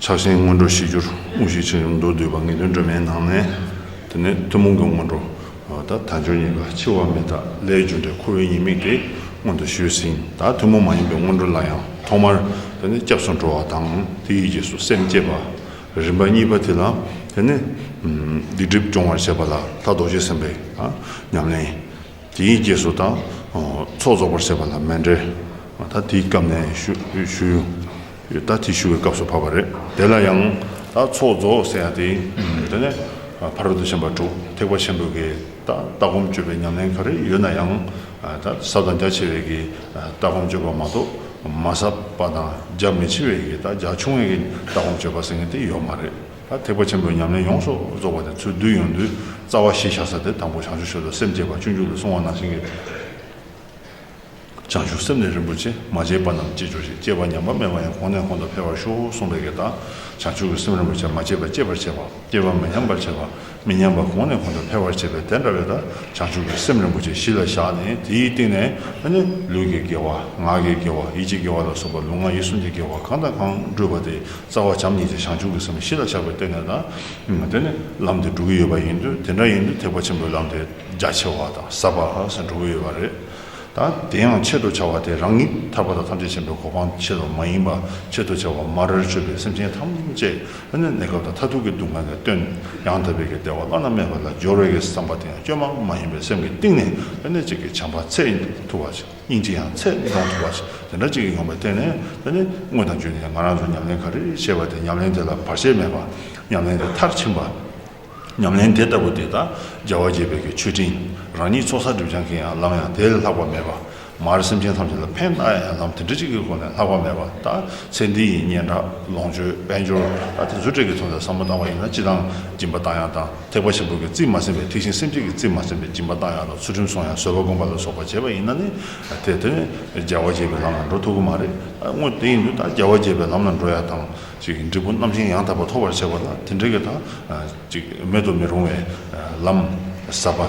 ཆགས་ཞེན་སྔོན་འགྲོ་ཞི་གྱུར་དབུགས་ཤུགས་ཆེ་རིམ་མདོར་བསྡུས་པ་ངེས་དོན་སྒྲོན་མེའི་ནང་ནས། དེ་ནས་ཐུན་མོང་གི་སྔོན་འགྲོ། དང་དལ་འབྱོར་གཉིས་ཀ་འཆི་བ་མེད་དག་ལས་རྒྱུ་འབྲས་ཁོ་བོའི་ཉེས་དམིགས་དེ་སྔོན་དུ་ཞུས་ཟིན་དང་ཐུན་མོང་མ་ཡིན་པའི་སྔོན་འགྲོ་ལ་ཡང་ཐོག་མར། དེ་ནས་སྐྱབས་སུ་འགྲོ་བ་དང་དེ་ཡི་རྗེས་སུ་སེམས་བསྐྱེད་པ། རིམ་པ་གཉིས་པ་དེ་ལ། དེ་ནས། སྡིག་སྒྲིབ་སྦྱོང་བར་བྱེད་པ་ལ་ད་རྡོ་རྗེ་སེམས་དཔའི། ཉམས་ལེན། དེ་ཡི་རྗེས་སུ་དང། ཚོགས་རྫོགས་པར་བྱེད་པ་ལ་མན་འབྲེལ། ད་དེའི་སྐབས་ནས་ཞུ། ཡོད་ད་དེ་ཞུ་བའི་སྐབས་སུ་བབས་པ་རེད་དེ་ལ་ཡང། ད་ཚོགས་རྫོགས་ཟེར་ཡང་དེ་དེ་ནས་ཕ་རོལ་ཏུ་ཕྱིན་པ་དྲུག་ཐེག་པ་ཆེན་པོའི་གི་ད་ལྟ་སྒོམ་སྤྱོད་པའི་ཉམས་ལེན་ག་རེ་ཡོད་ན་ཡང། ད་ས་དང་རྒྱ་ཆེ་བའི་གི་ད་སྒོམ་སྤྱོད་པ་མ་གཏོགས་མ་ས་པ་དང་རྒྱ་མི་ཆེ་བའི་གི་ད་རྒྱ་ཆུང་བའི་གི་ད་སྒོམ་སྤྱོད་པ་ཟེར་མཁན་དེ་ཡོད་མ་རེད་ད་ཐེག་པ་ཆེན་པོའི་ཉམས་ལེན་ཡོངས་སུ་རྫོགས་པ་དེ་ཚུལ་བསྡུ་ཡོངས་འདུའི་རྩ་བ་གཞི་བཞག་ས་དེ་དང་པོ་བྱང་ཆུབ་སེམས་ལ་སེམས་བསྐྱེད་པ་བཅུ་འཇུག་ལ་སོང་བ་ནང་བཞིན་གྱི། བྱང་ཆུབ་སེམས་ལས་རིན་པོ་ཆེ་མ་སྐྱེས་པ་རྣམས་སྐྱེས་གྱུར་ཅིག་སྐྱེས་པ་ཉམས་པ་མེད་པ་ཡང་གོང་ནས་གོང་དུ་འཕེལ་བར་ཤོག་གསུངས་པའི་གེགས་དང། བྱང་ཆུབ་ཀྱི་སེམས་རིན་པོ་ཆེ་མ་སྐྱེས་པ་སྐྱེད་པར་བྱེད་པ། སྐྱེས་པ་མི་ཉམས་པར་བྱེད་པ། མི་ཉམས་པ་གོང་ནས་གོང་དུ་འཕེལ་བར་བྱེད་པའི་དེ་འདྲ་བའི་དང་བྱང་ཆུབ་ཀྱི་སེམས་རིན་པོ་ཆེ་གཞི་ལ་བཞག་ནས་དེའི་སྟེང་ནས་ཨ་ནི་ལུས་ཀྱི་དགེ་བ། ངག་གི་དགེ་བ་ཡིད་ཀྱི་དགེ་བ་ལ་སོགས་པ་ལུས་ངག་ཡིད་གསུམ་གྱི་དགེ་བ་གང་དང་གང་སྤྲོས་པ་དེ་རྩ་བ་བྱམས་ཉིད་ཀྱི་བྱང་ཆུབ་ཀྱི་སེམས་གཞི་ལ་བཞག་པའི་སྟེང་ནས་དང། དེ་ནི་ལམ་དེ་འགྲོ་གི་ཡོད་པ་ཡིན་དུས་དེ་འདྲ་ཡིན་དུས་ཐེག་པ་ཆེན་པོའི་ལམ་དེ་རྒྱ་ཆེ་བ་དང་ཟབ་པ་ཧ་གསལ་འགྲོ་གི་ཡོད་པ་རེད། དང། དེ་ཡང་ཆེད་དུ་བྱ་བ་དེ་རང་ཉིད་ཐར་པ་དང་ཐམས་ཅད་མཁྱེན་པའི་གོ་འཕང་ཆེད་དུ་མ་ཡིན་པར་ཆེད་དུ་བྱ་བ་དམར་རེར་སྤྱོད་པའི་སེམས་ཅན་ཐམས་ཅད་དབེན་པའི་གནས་སྐབས་དང་མཐར་ཐུག་གི་སྡུག་བསྔལ་ལས་བཏོན་ཡང་དག་པའི་གེགས་བདེ་བ་བླ་ན་མེད་པ་ལ་སྦྱོར་བའི་བསམ་པ་དེ་ཡང་སྐྱོན་མང་པོ་མ་ཡིན་པའི་སེམས་ཀྱི་གཏིང་ནས་བསླད་ནས་ཅིག་གིས་བྱམས་པ་ཚད་ཐུབ་པ་ཅིག་སྙིང་རྗེ་ཡང་ཚད་འདོང་ཐུབ་པ་ཅིག་དེ་འདྲ་ཅིག་གིས་ཡོང་པའི་ཐད་ནས་དེ་ནི་དངོས་དང་བརྗོད་ནས་ཡང་ང་རང་ཚོས་ཉམས་ལེན་ག་རེ་བྱས་པ་དེ་ཉམས་ལེན་དེ་ལ་བར་ཆད་མེད་པར་ཉམས་ལེན་དེ་མཐར་ཕྱིན་པ། ཉམས་ལེན་དེ་ལྟ་བུ་དེ་དག་རྒྱལ་བ་དགྱེས་པའི་གྱི་མཆོད་སྤྲིན་རང་ཉིད་ཚོགས་བསགས་སྒྲིབ་སྦྱང་གི་ཡང་ལམ་ཡང་དེ་ལས་ལྷག་པ་མེད་པ། མར་སེམས་ཅན་ཐམས་ཅད་ལ་ཕན་བཏགས་ཡང་ལམ་དེ་འདྲ་གཅིག་གི་སྒོ་ནས་ལྷག་པ་མེད་པ་ལྟ་ཚེ་འདི་ཡི་སྙན་གྲགས་ལོངས་སྤྱོད་དཔལ་འབྱོར་ལ་དེ་ཚོའི་སྤྲད་ཀྱི་ཚོང་ཟད་ཟ་མ་བཏང་བ་ཡིན་ན་ཅི་དང་སྦྱིན་པ་བཏང་ཡང་བཏང་ཐེག་པ་ཆེན་པོ་གི་རྩིས་མ་ཟིན་པའི་ཐེག་ཆེན་སེམས་བསྐྱེད་ཀྱི་རྩིས་མ་ཟིན་པའི་སྦྱིན་པ་བཏང་ཡང་དང་ཚུལ་ཁྲིམས་སྲུང་ཡང་བཟོད་པ་བསྒོམ་པ་ལ་སོགས་པ་བྱས་པ་ཡིན་ན་ནི་དེ་དེ་ནི་རྒྱལ་བ་དགྱེས་པའི་ལམ་ལ་འགྲོ་ཐུག་གི་མ་རེད་དངོས་དེ་ཡིན་དུས་ད་རྒྱལ་བ་དགྱེས་པའི་ལམ་ལ་འགྲོ་ཡ་དང། འབྲས་བུ་རྣམ་བཞིན་ཡང་དག་པར་ཐོབ་པར་བྱེད་པ་ལ་དེ་འབྲས་ཀྱི་དང། མེད་དུ་མི་རུང་བའི་ལམ་ཟབ་པ་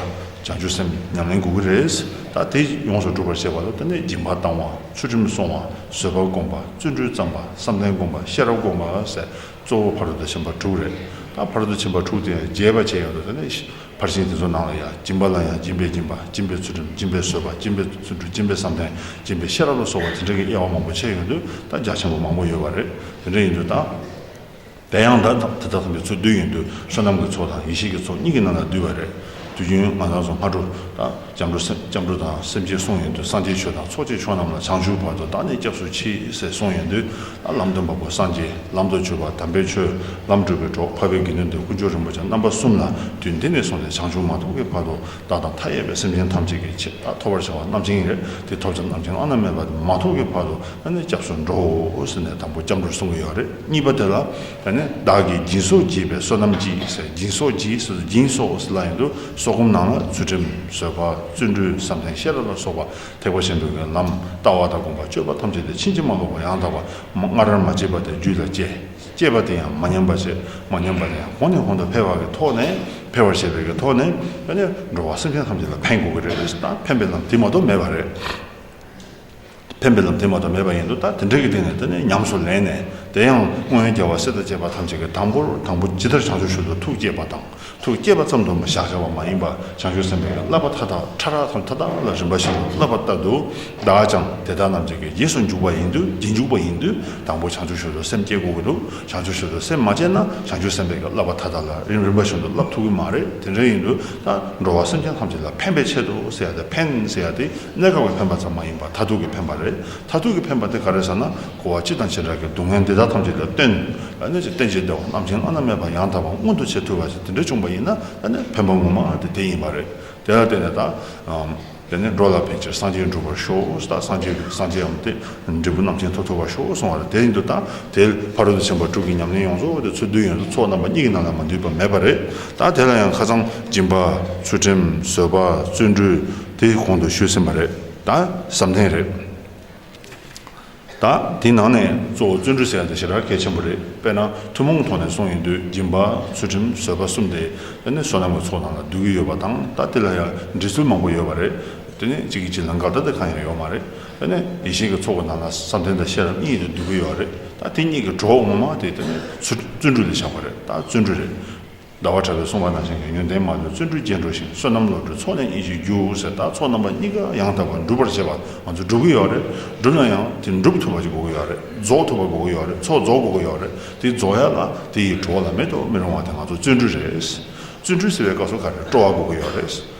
བྱང་ཆུབ་སེམས་ཉམས་ལེན་དགོས་ཀྱི་རེད། ད་དེ་ཡོངས་སུ་སྒྲུབ་པར་བྱེད་པ་ལ་ལྟོས་ནས་སྦྱིན་པ་བཏང་བ་ཚུལ་ཁྲིམས་བསྲུང་བ་བཟོད་པ་བསྒོམ་པ་བརྩོན་འགྲུས་བརྩམས་པ་བསམ་གཏན་བསྒོམ་པ་ཤེས་རབ་བསྒོམ་པ་སོགས་གཙོ་བོ་བར་དུ་ཕྱིན་པ་དྲུག་རེད། ད་བར་དུ་ཕྱིན་པ་དྲུག་དེ་རྒྱས་པ་བྱེད་ཡོད་དོ་ནི་ཕར་ཕྱིན་དེ་ཚོ་ནང་ལ་ཡང་སྦྱིན་པ་ལ་ཡང་སྦྱིན་པའི་སྦྱིན་པ་སྦྱིན་པའི་ཚུལ་ཁྲིམས་སྦྱིན་པའི་བཟོད་པ་སྦྱིན་པའི་ཚུལ་འཁྲུལ་སྦྱིན་པའི་བསམ་གཏན་སྦྱིན་པའི་ཤེས་རབ་ལ་སོགས་པ་དེ་འདྲ་གི་དབྱེ་བ་མང་པོ་ཕྱེ་ཡོད་དུས་ད་རྒྱ་ཆེན་པོ་མང་པོ་ཡོད་པ་རེད་དེ་འདྲ་ཡིན་དུས་ད། དེ་ཡང་ད་དེ་དག་ཚང་གི་ཚུལ་བསྡུས་ཡིན་དུས་བསོད་ནམས་ཀྱི་ཚོགས་དང་ཡེ་ཤེས་ཀྱི་ཚོགས་གཉིས་ཀྱི་ནང་ལ་བསྡུས་པ་རེད་དུས་རྒྱུན་མ་ཚང་སོ་ལྔ་དྲུག་ད། སྐྱབས་འགྲོ་སེམས་སྐྱབས་འགྲོ་དང་སེམས་བསྐྱེད་གསུང་ཡོན་དུ་སངས་རྒྱས་ཆོས་དང་ཚོགས་བཅས་ཆོས་རྣམས་ལ་བྱང་ཆུབ་བར་དུ་བདག་ནི་སྐྱབས་སུ་མཆི་ཟེར་གསུང་ཡོན་དུ་ལ་ལམ་སྟོན་པ་པོ་སངས་རྒྱས་ལམ་དུ་བྱོལ་བ་དམ་པའི་ཆོས་ལམ་སྒྲུབ་པའི་གྲོགས་འཕགས་པའི་དགེ་འདུན་འདིར་དཀོན་མཆོག་རིན་པོ་ཆེ་རྣམ་པ་གསུམ་ལ་དུས་འདི་ནས་བཟུང་སྟེ་བྱང་ཆུབ་མ་ཐོབ་ཀྱི་བར་དུ་བདག་དང་མཐའ་ཡས་པའི་སེམས་ཅན་ཐམས་ཅད་ཀྱི་ཆེད་བདག་ཐོབ་བར་བྱ་བ་རྣམས་བྱིན་ཡོད་དེ་ཐོབ་བྱ་རྣམས་ཀྱི་བླ་ན་མེད་པ་དེ་མ་ཐོབ་ཀྱི་བར་དུ་ང་ནི་སྐྱབས་སུ་འགྲོའོ་ཟེར་ནས་དང་པོ་སྐྱབས་འགྲོར་གསུང་གི་ཡོད་རེད་གཉིས་པ་དེ་ལ་ད་ནི་བདག་གིས་སྦྱིན་སོགས་བགྱིས་པའི་བསོད་ནམས་ཀྱིས་ཟེར་སྦྱིན་སོགས་བགྱིས་ཟེར་དུ་སྦྱིན་སོགས་ལ་ཡིན་དུ་སོགས་སྒོམ་ནང་ལ་ཚུལ་ཁྲིམས་བཟོད་པ་བརྩོན་འགྲུས་བསམ་གཏན་ཤེས་རབ་ལ་སོགས་པ་ཐེག་པ་ཆེན་པོའི་མེ་ལམ་ལྟ་བ་དང་སྒོམ་པ་སྤྱོད་པ་ཐམས་ཅད་དེ་ཕྱིན་ཅི་མ་ལོག་པར་ཡང་དག་པར་སྔ་རར་མ་སྐྱེས་པ་དེ་རྒྱུད་ལ་སྐྱེས། སྐྱེས་པ་དེ་ཡང་མ་ཉམས་པར་བྱས། མ་ཉམས་པ་དེ་ཡང་གོང་ནས་གོང་དུ་འཕེལ་བ་གི་ཐོག་ནས་འཕེལ་བར་བྱས་པའི་གི་ཐོག་ནས་འགྲོ་བ་སེམས་ཅན་ཐམས་ཅད་ལ་ཕན་དགོས་ཀྱི་རེད་དང་ཕན་པའི་ལམ་དེ་མ་གཏོགས་མེད་པ་རེད། ཕན་པའི་ལམ་དེ་མ་ཏོག་མེད་པ་ཡིན་དུ་ད་དེ་འདྲ་གི་སྟེང་ནས་འདི་ནས་ཉམས་སུ་ལེན་ནས་དེ་ཡང་སྔོན་རྒྱལ་བ་སྲས་དང་བཅས་པ་ཐམས་ཅད་ཀྱི་དང་པོར་དང་པོ་ཇི་ལྟར་བྱང་ཆུབ་ཤུལ་དུ་ཐུགས་བསྐྱེད་པ་དང་ཐུགས་བསྐྱེད་པ་ཙམ་དུ་མ་བཞག་བྱ་བ་མ་ཡིན་པ་བྱང་ཆུབ་སེམས་དཔའི་བསླབ་པ་མཐའ་དག་ཕྲ་རགས་སམ་མཐའ་དག་ལ་རིམ་པ་བཞིན་དུ་བསླབ་པ་ལྟར་དུ་བདག་ཀྱང་དེ་དག་རྣམས་ཀྱི་རྗེས་སུ་འཇུག་པ་ཡིན་དུ་རྗེས་འཇུག་པ་ཡིན་དུ་དང་པོ་བྱང་ཆུབ་ཤུལ་དུ་སེམས་བསྐྱེད་དགོས་ཀྱི་འདུག་བྱང་ཆུབ་ཤུལ་དུ་སེམས་མ་བསྐྱེད་ན་བྱང་ཆུབ་སེམས་དཔའི་བསླབ་པ་མཐའ་དག་ལ་རིམ་རིམ་པ་བཞིན་དུ་བསླབ་ཐུབ་ཀྱི་མ་རེད་དེ་འདྲ་ཡིན་དུ་དང། འགྲོ་བ་སེམས་ཅན་ཐམས་ཅད་ལ་ཕན་པའི་ཆེད་དུ་ཟེར་ཡ་དེ་ཕན་ཟེར་ཡ་དེ་གནད་འགག་པའི་ཕན་པ་ཙམ་མ་ཡིན་པར་མཐར་ཐུག་གི་ཕན་པ་རེད་མཐར་ཐུག་གི་ཕན་པ་དེ་ག་རེད་ཟེར་ན་འཁོར་བ་སྤྱི་དང་བྱེ་བྲག་གི་སྡུག་བསྔལ་འདི་དག་ཐམས་ཅད་ལ་སྟོན་ལ་གནོད་ཀྱི་རྟེན་བྱེད་བདེ་བ་རྣམ་བྱང་ལྔ་ན་མེད་པ་ཡང་དག་པ་མངོན་དུ་བྱེད་ཐུབ་པ་ཞིག་དེ་འདྲ་བྱུང་བ་ཡིན་ན་ད་ནི་ཕན་པ་ངོ་མ་དེ་དེ་ཡིན་པ་རེད་དེ་ལ་བརྟེན་ནས་ད་དེ་ནས་འགྲོ་ལ་ཕལ་ཆེར་སངས་རྒྱས་འགྲུབ་པར་ཤོག་ཨོ་ས་དང་སངས་རྒྱས་སངས་རྒྱས་འམ་དེའི་འབྲས་བུ་རྣམས་ཅན་ཐོབ་ཐོབ་པར་ཤོག་ཨོ་གསུང་བ་ལ་དེའི་འདུ་དང་དེའི་ཕ་རོལ་ཏུ་ཕྱིན་པ་དྲུག་གི་ཉམས་ལེན་ཡོངས་རྫོགས་དེ་ཚུལ་འདུས་ཡོན་དུ་ཚོགས་རྣམ་པ་གཉིས་ཀྱི་ནང་ན་མ་འདུས་པ་མེད་པ་རེད་དཱ་དེ་ལ་ཡང་ཁ་ཚང་སྦྱིན་པ་ཚུལ་ཁྲིམས་བཟོད་པ་བརྩོན་འགྲུས་དེ་གོང་དུ་ཞུས་ཟིན་པ་རེད་དཱ་བསམ་གཏན་རེད། དང། དེའི་ནང་ནས་གཙོ་བོ་བརྩོན་འགྲུས་ཟེར་ཡ་དེ་ཞེ་དྲག་གལ་ཆེན་པོ་རེད། དཔེར་ན་ཐུན་མོང་ཐོག་ནས་སོང་ཡིན་དུས་སྦྱིན་པ་ཚུལ་ཁྲིམས་བཟོད་པ་གསུམ་དེ་དེ་ནི་བསོད་ནམས་ཀྱི་ཚོགས་ནང་ལ་བསྡུས་ཀྱི་ཡོད་པ་དང་ད་དེ་ལ་ཡང་འབྲི་ཚུལ་མང་པོ་ཡོད་པ་རེད། དེ་ནི་གཅིག་གི་གཅིག་ལ་འགལ་ཟླ་དེ་གང་ཡང་ཡོད་མ་རེད། དེ་ནི་ཡེ་ཤེས་ཀྱི་ཚོགས་ཀྱི་ནང་ལ་བསམ་གཏན་དང་ཤེས་རབ་གཉིས་དེ་བསྡུས་ཀྱི་ཡོད་རེད། ད་དེ་གཉིས་ཀྱི་གྲོགས་ངོ་མ་དེ་དེ་ནི་བརྩོན་འགྲུས་ལས་བཞག་པ་རེད། ད་བརྩོན་འགྲུས་རེད། ཟླ་བ་ཕྲ་བའི་སྲུང་བ་ནང་བཞིན་གྱི་ཡོན་ཏན་མ་ལུས་བརྩོན་འགྲུས་རྒྱས་འགྲོ་ཞིང་བསོད་ནམས་བློ་གྲོས་ཚོགས་གླེང་ཡིད་ཀྱི་རྒྱུ་ཟེར་དག་ཚོགས་རྣམ་པ་གཉིས་ཀ་ཡང་དག་པར་འགྲུབ་པར་བྱེད་པ་ང་ཚོས་སྒྲུབ་ཀྱི་ཡོད་རེད་བསྒྲུབ་ན་ཡང་དེ་འགྲུབ་ཐུབ་པ་ཅིག་དགོས་ཀྱི་ཡོད་རེད་རྫོགས་ཐུབ་པ་དགོས་ཀྱི་ཡོད་རེད་ཚོགས་རྫོགས་དགོས་ཀྱི་ཡོད་རེད་དེ་རྫོགས་ཡ་ལ་དེ་ཡི་བྲོ་བ་ལ་མེད་དུ་མི་རུང་བ་དེ་ང་ཚོ་བརྩོན་འགྲུས་རེད་བརྩོན་འགྲུས་ཟེར་བའི་སྐབས་སུ་ག་རེ་སྤྲོ་བ་དགོས་ཀྱི་ཡོད་རེད།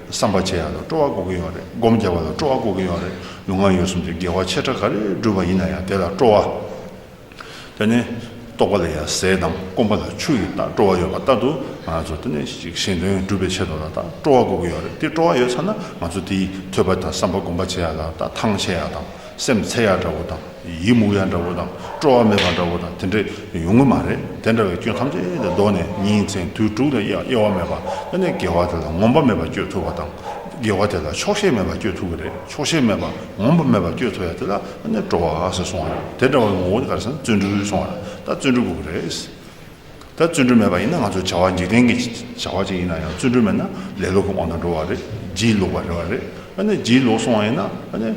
བསམ་པ་ཆེ་ཡང་དང་སྤྲོ་བ་འགོག་གི་ཡོད་རེད་སྒོམ་རྒྱག་པ་དང་སྤྲོ་བ་འགོག་གི་ཡོད་རེད་ལུས་ངག་ཡོད་གསུམ་གྱི་དགེ་བ་ཆེ་ཕྲ་ག་རེ་བསྒྲུབས་པ་ཡིན་ན་ཡང་དེ་ལ་སྤྲོ་བ། དེ་ནི་རྟོག་པ་ལ་ཡང་ཟས་དང་སྐོམ་པ་ལ་ཆུ་ཡི་ལྟར་སྤྲོ་བ་ཡོད་པ་ལྟར་དུ་ང་ཚོ་དེ་ནས་ཅིག་གཞན་དོན་སྒྲུབ་པའི་ཆེད་དུ་ལ་དང་སྤྲོ་བ་འགོག་གི་ཡོད་རེད་དེ་སྤྲོ་བ་ཡོད་ཚར་ན་ང་ཚོ་དེའི་ཐོས་པ་དང་བསམ་པ་སྒོམ་པ་ཆེ་ཡག་ལ་དང་ཐང་ཆེ་ཡག་དང། སེམས་ཚེ་ཡག་འདྲ་བོ་དང་ཡིད་མུག་ཡག་འདྲ་བོ་དང་སྤྲོ་བ་མེད་པ་འདྲ་བོ་དང་དེ་འདྲ་ཡོང་གི་མ་རེད་དེ་འདྲ་བའི་སྐྱོན་ཐམས་ཅད་དེ་བཟློག་ནས་ཉིན་མཚན་དུས་དྲུག་དང་དབྱེ་བ་མེད་པ་བླ་ནས་དགེ་བ་དེ་ལ་ངོམས་པ་མེད་པ་སྤྱོད་ཐུབ་པ་དང་དགེ་བ་དེ་ལ་ཆོག་ཤེས་མེད་པ་སྤྱོད་ཐུབ་ཀྱི་རེད་ཆོག་ཤེས་མེད་པ་ངོམས་པ་མེད་པ་སྤྱོད་ཐུབ་ཡ་དེ་ལ་བླ་ནས་སྤྲོ་བ་ཟེར་སོང་བ་རེད་དེ་འདྲ་བའི་ངོ་བོ་དེ་ག་རེ་ཟེར་ན་བརྩོན་འགྲུས་ཟེར་སོང་བ་རེད་ད་བརྩོན་འགྲུས་དགོས་ཀྱི་རེད། ད་བརྩོན་འགྲུས་མེད་པ་ཡིན་ན་ང་ཚོའི་བྱ་བ་འཇིག་རྟེན་གྱི་བྱ་བ་ཅིག་ཡིན་ན་ཡང་བརྩོན་འགྲུས་མེད་ན་ལེ་ལོ་གི་དབང་དུ་འགྲོ་བ་རེད་བརྗིད་ལོག་པ་རེད་བ་རེད་ཨ་ནི་བརྗིད་ལོག་སོང་བ་ཡིན་ན་ཨ་ནི་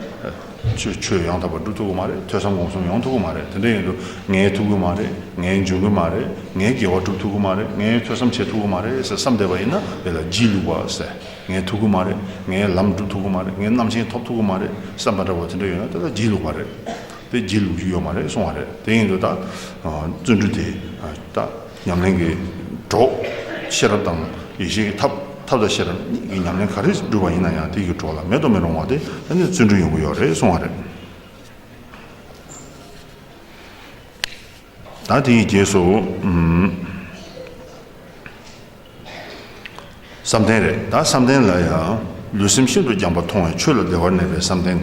ཆོས་ཡང་དག་པར་སྒྲུབ་ཐུབ་ཀྱི་མ་རེད་ཐོས་བསམ་སྒོམ་གསུམ་ཡོང་ཐུབ་ཀྱི་མ་རེད་དེ་འདྲ་ཡིན་དུས་ངའི་ཐུབ་ཀྱི་མ་རེད་ངའི་འབྱུང་གི་མ་རེད་ངའི་དགེ་བ་སྒྲུབ་ཐུབ་ཀྱི་མ་རེད་ངའི་ཐོས་བསམ་བྱེད་ཐུབ་ཀྱི་མ་རེད་ཟེར་བསམ་བསྡད་པ་ཡིན་ན་དེ་ལ་བརྗིད་ལུག་པ་ཟེར་ངའི་ཐུབ་ཀྱི་མ་རེད་ངའི་ལམ་སྒྲུབ་ཐུབ་ཀྱི་མ་རེད་ངའི་རྣམ་མཁྱེན་ཐོབ་ཐུབ་ཀྱི་མ་རེད་བསམ་པ་འདྲ་བོ་དེ་འདྲ་ཡོད་ན་དེ་ལ་བརྗིད་ལུག་པ་རེད། པའི་སྒྱིད་ལུག་ཅིག་ཡོད་མ་རེད་གསུང་བ་རེད་དེ་ཡིན་དུ་ད་བརྩོན་འགྲུས་དེ་ད་ཉམས་ལེན་གྱི་གྲོགས་ཤེས་རབ་དང་ཡེ་ཤེས་ཀྱི་ཐབས་ཐབས་དང་ཤེས་རབ་གཉིས་ཀྱི་ཉམས་ལེན་ག་རེ་བསྒྲུབས་པ་ཡིན་ན་ཡང་དེ་གི་གྲོགས་ལ་མེད་དུ་མི་རུང་བ་དེ་ད་ནས་བརྩོན་འགྲུས་ཡོང་གི་ཡོད་རེད་གསུང་བ་རེད། བདག་དེ་ཡི་རྗེས་སུ། བསམ་གཏན་རེ་བདག་བསམ་གཏན་ལ་ཡང། ལུས་སེམས་ཤིན་ཏུ་རྒྱངས་པ་མཐོང་བའི་ཆོས་ལ་བདེ་བར་གནས་པའི་བསམ་གཏན།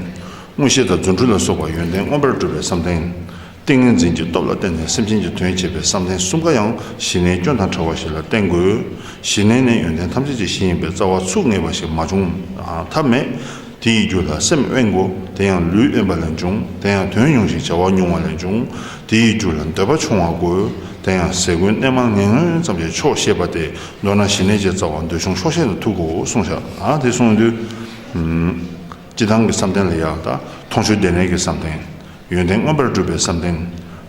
མངོན་ཤེས་དང་རྫུ་འཕྲུལ་ལ་སོགས་པ་ཡོན་ཏན་མངོན་པར་སྒྲུབ་པའི་བསམ་གཏན། ཏིང་ངེ་འཛིན་གྱི་སྟོབས་ལ་བརྟེན་ནས་སེམས་ཅན་གྱི་དོན་བྱེད་པའི་བསམ་གཏན་གསུམ་ཀ་ཡང་གཞི་གནས་སྐྱོན་དང་བྲལ་བ་ཞིག་ལ་བརྟེན་དགོས། གཞི་གནས་ནས་ཡོན་ཏན་ཐམས་ཅད་ཀྱི་གཞི་ཡིན་པའི་རྩ་བ་ཚུགས་ངེས་པ་ཞིག་མ་བྱུང་ཐབས་མེད། དེ་ཡི་རྒྱུ་ལ་སེམས་དབེན་གོ། དེ་ཡང་ལུས་དབེན་པ་ལས་འབྱུང། དེ་ཡང་དོན་ཉུང་ཞིང་བྱ་བ་ཉུང་བ་ལས་འབྱུང། དེ་ཡི་རྒྱུ་ལ་འདོད་པ་ཆུང་བ་གོ། དེ་ཡང་ཟས་གོས་གནས་མང་ངན་ངོན་ཙམ་གྱི་ཕྱོགས་ཤེས་པ་སྟེ་མདོར་ན་ཞི་གནས་བརྒྱད་རྩ་བ་འདོད་ཆུང་ཕྱོགས་ཤེས་ན་ཐུག་གོ་གསུངས་བྱ། དེ་གསུངས་དུས། སྤྱི་བཏང་གི་བསམ་གཏན་ལ་ཡང་དང། མཐོང་ཆོས་བདེ་གནས་ཀྱི་བསམ་གཏན། ཡོན་ཏན་མངོན་པར་བསྒྲུབ་པའི་བསམ་གཏན།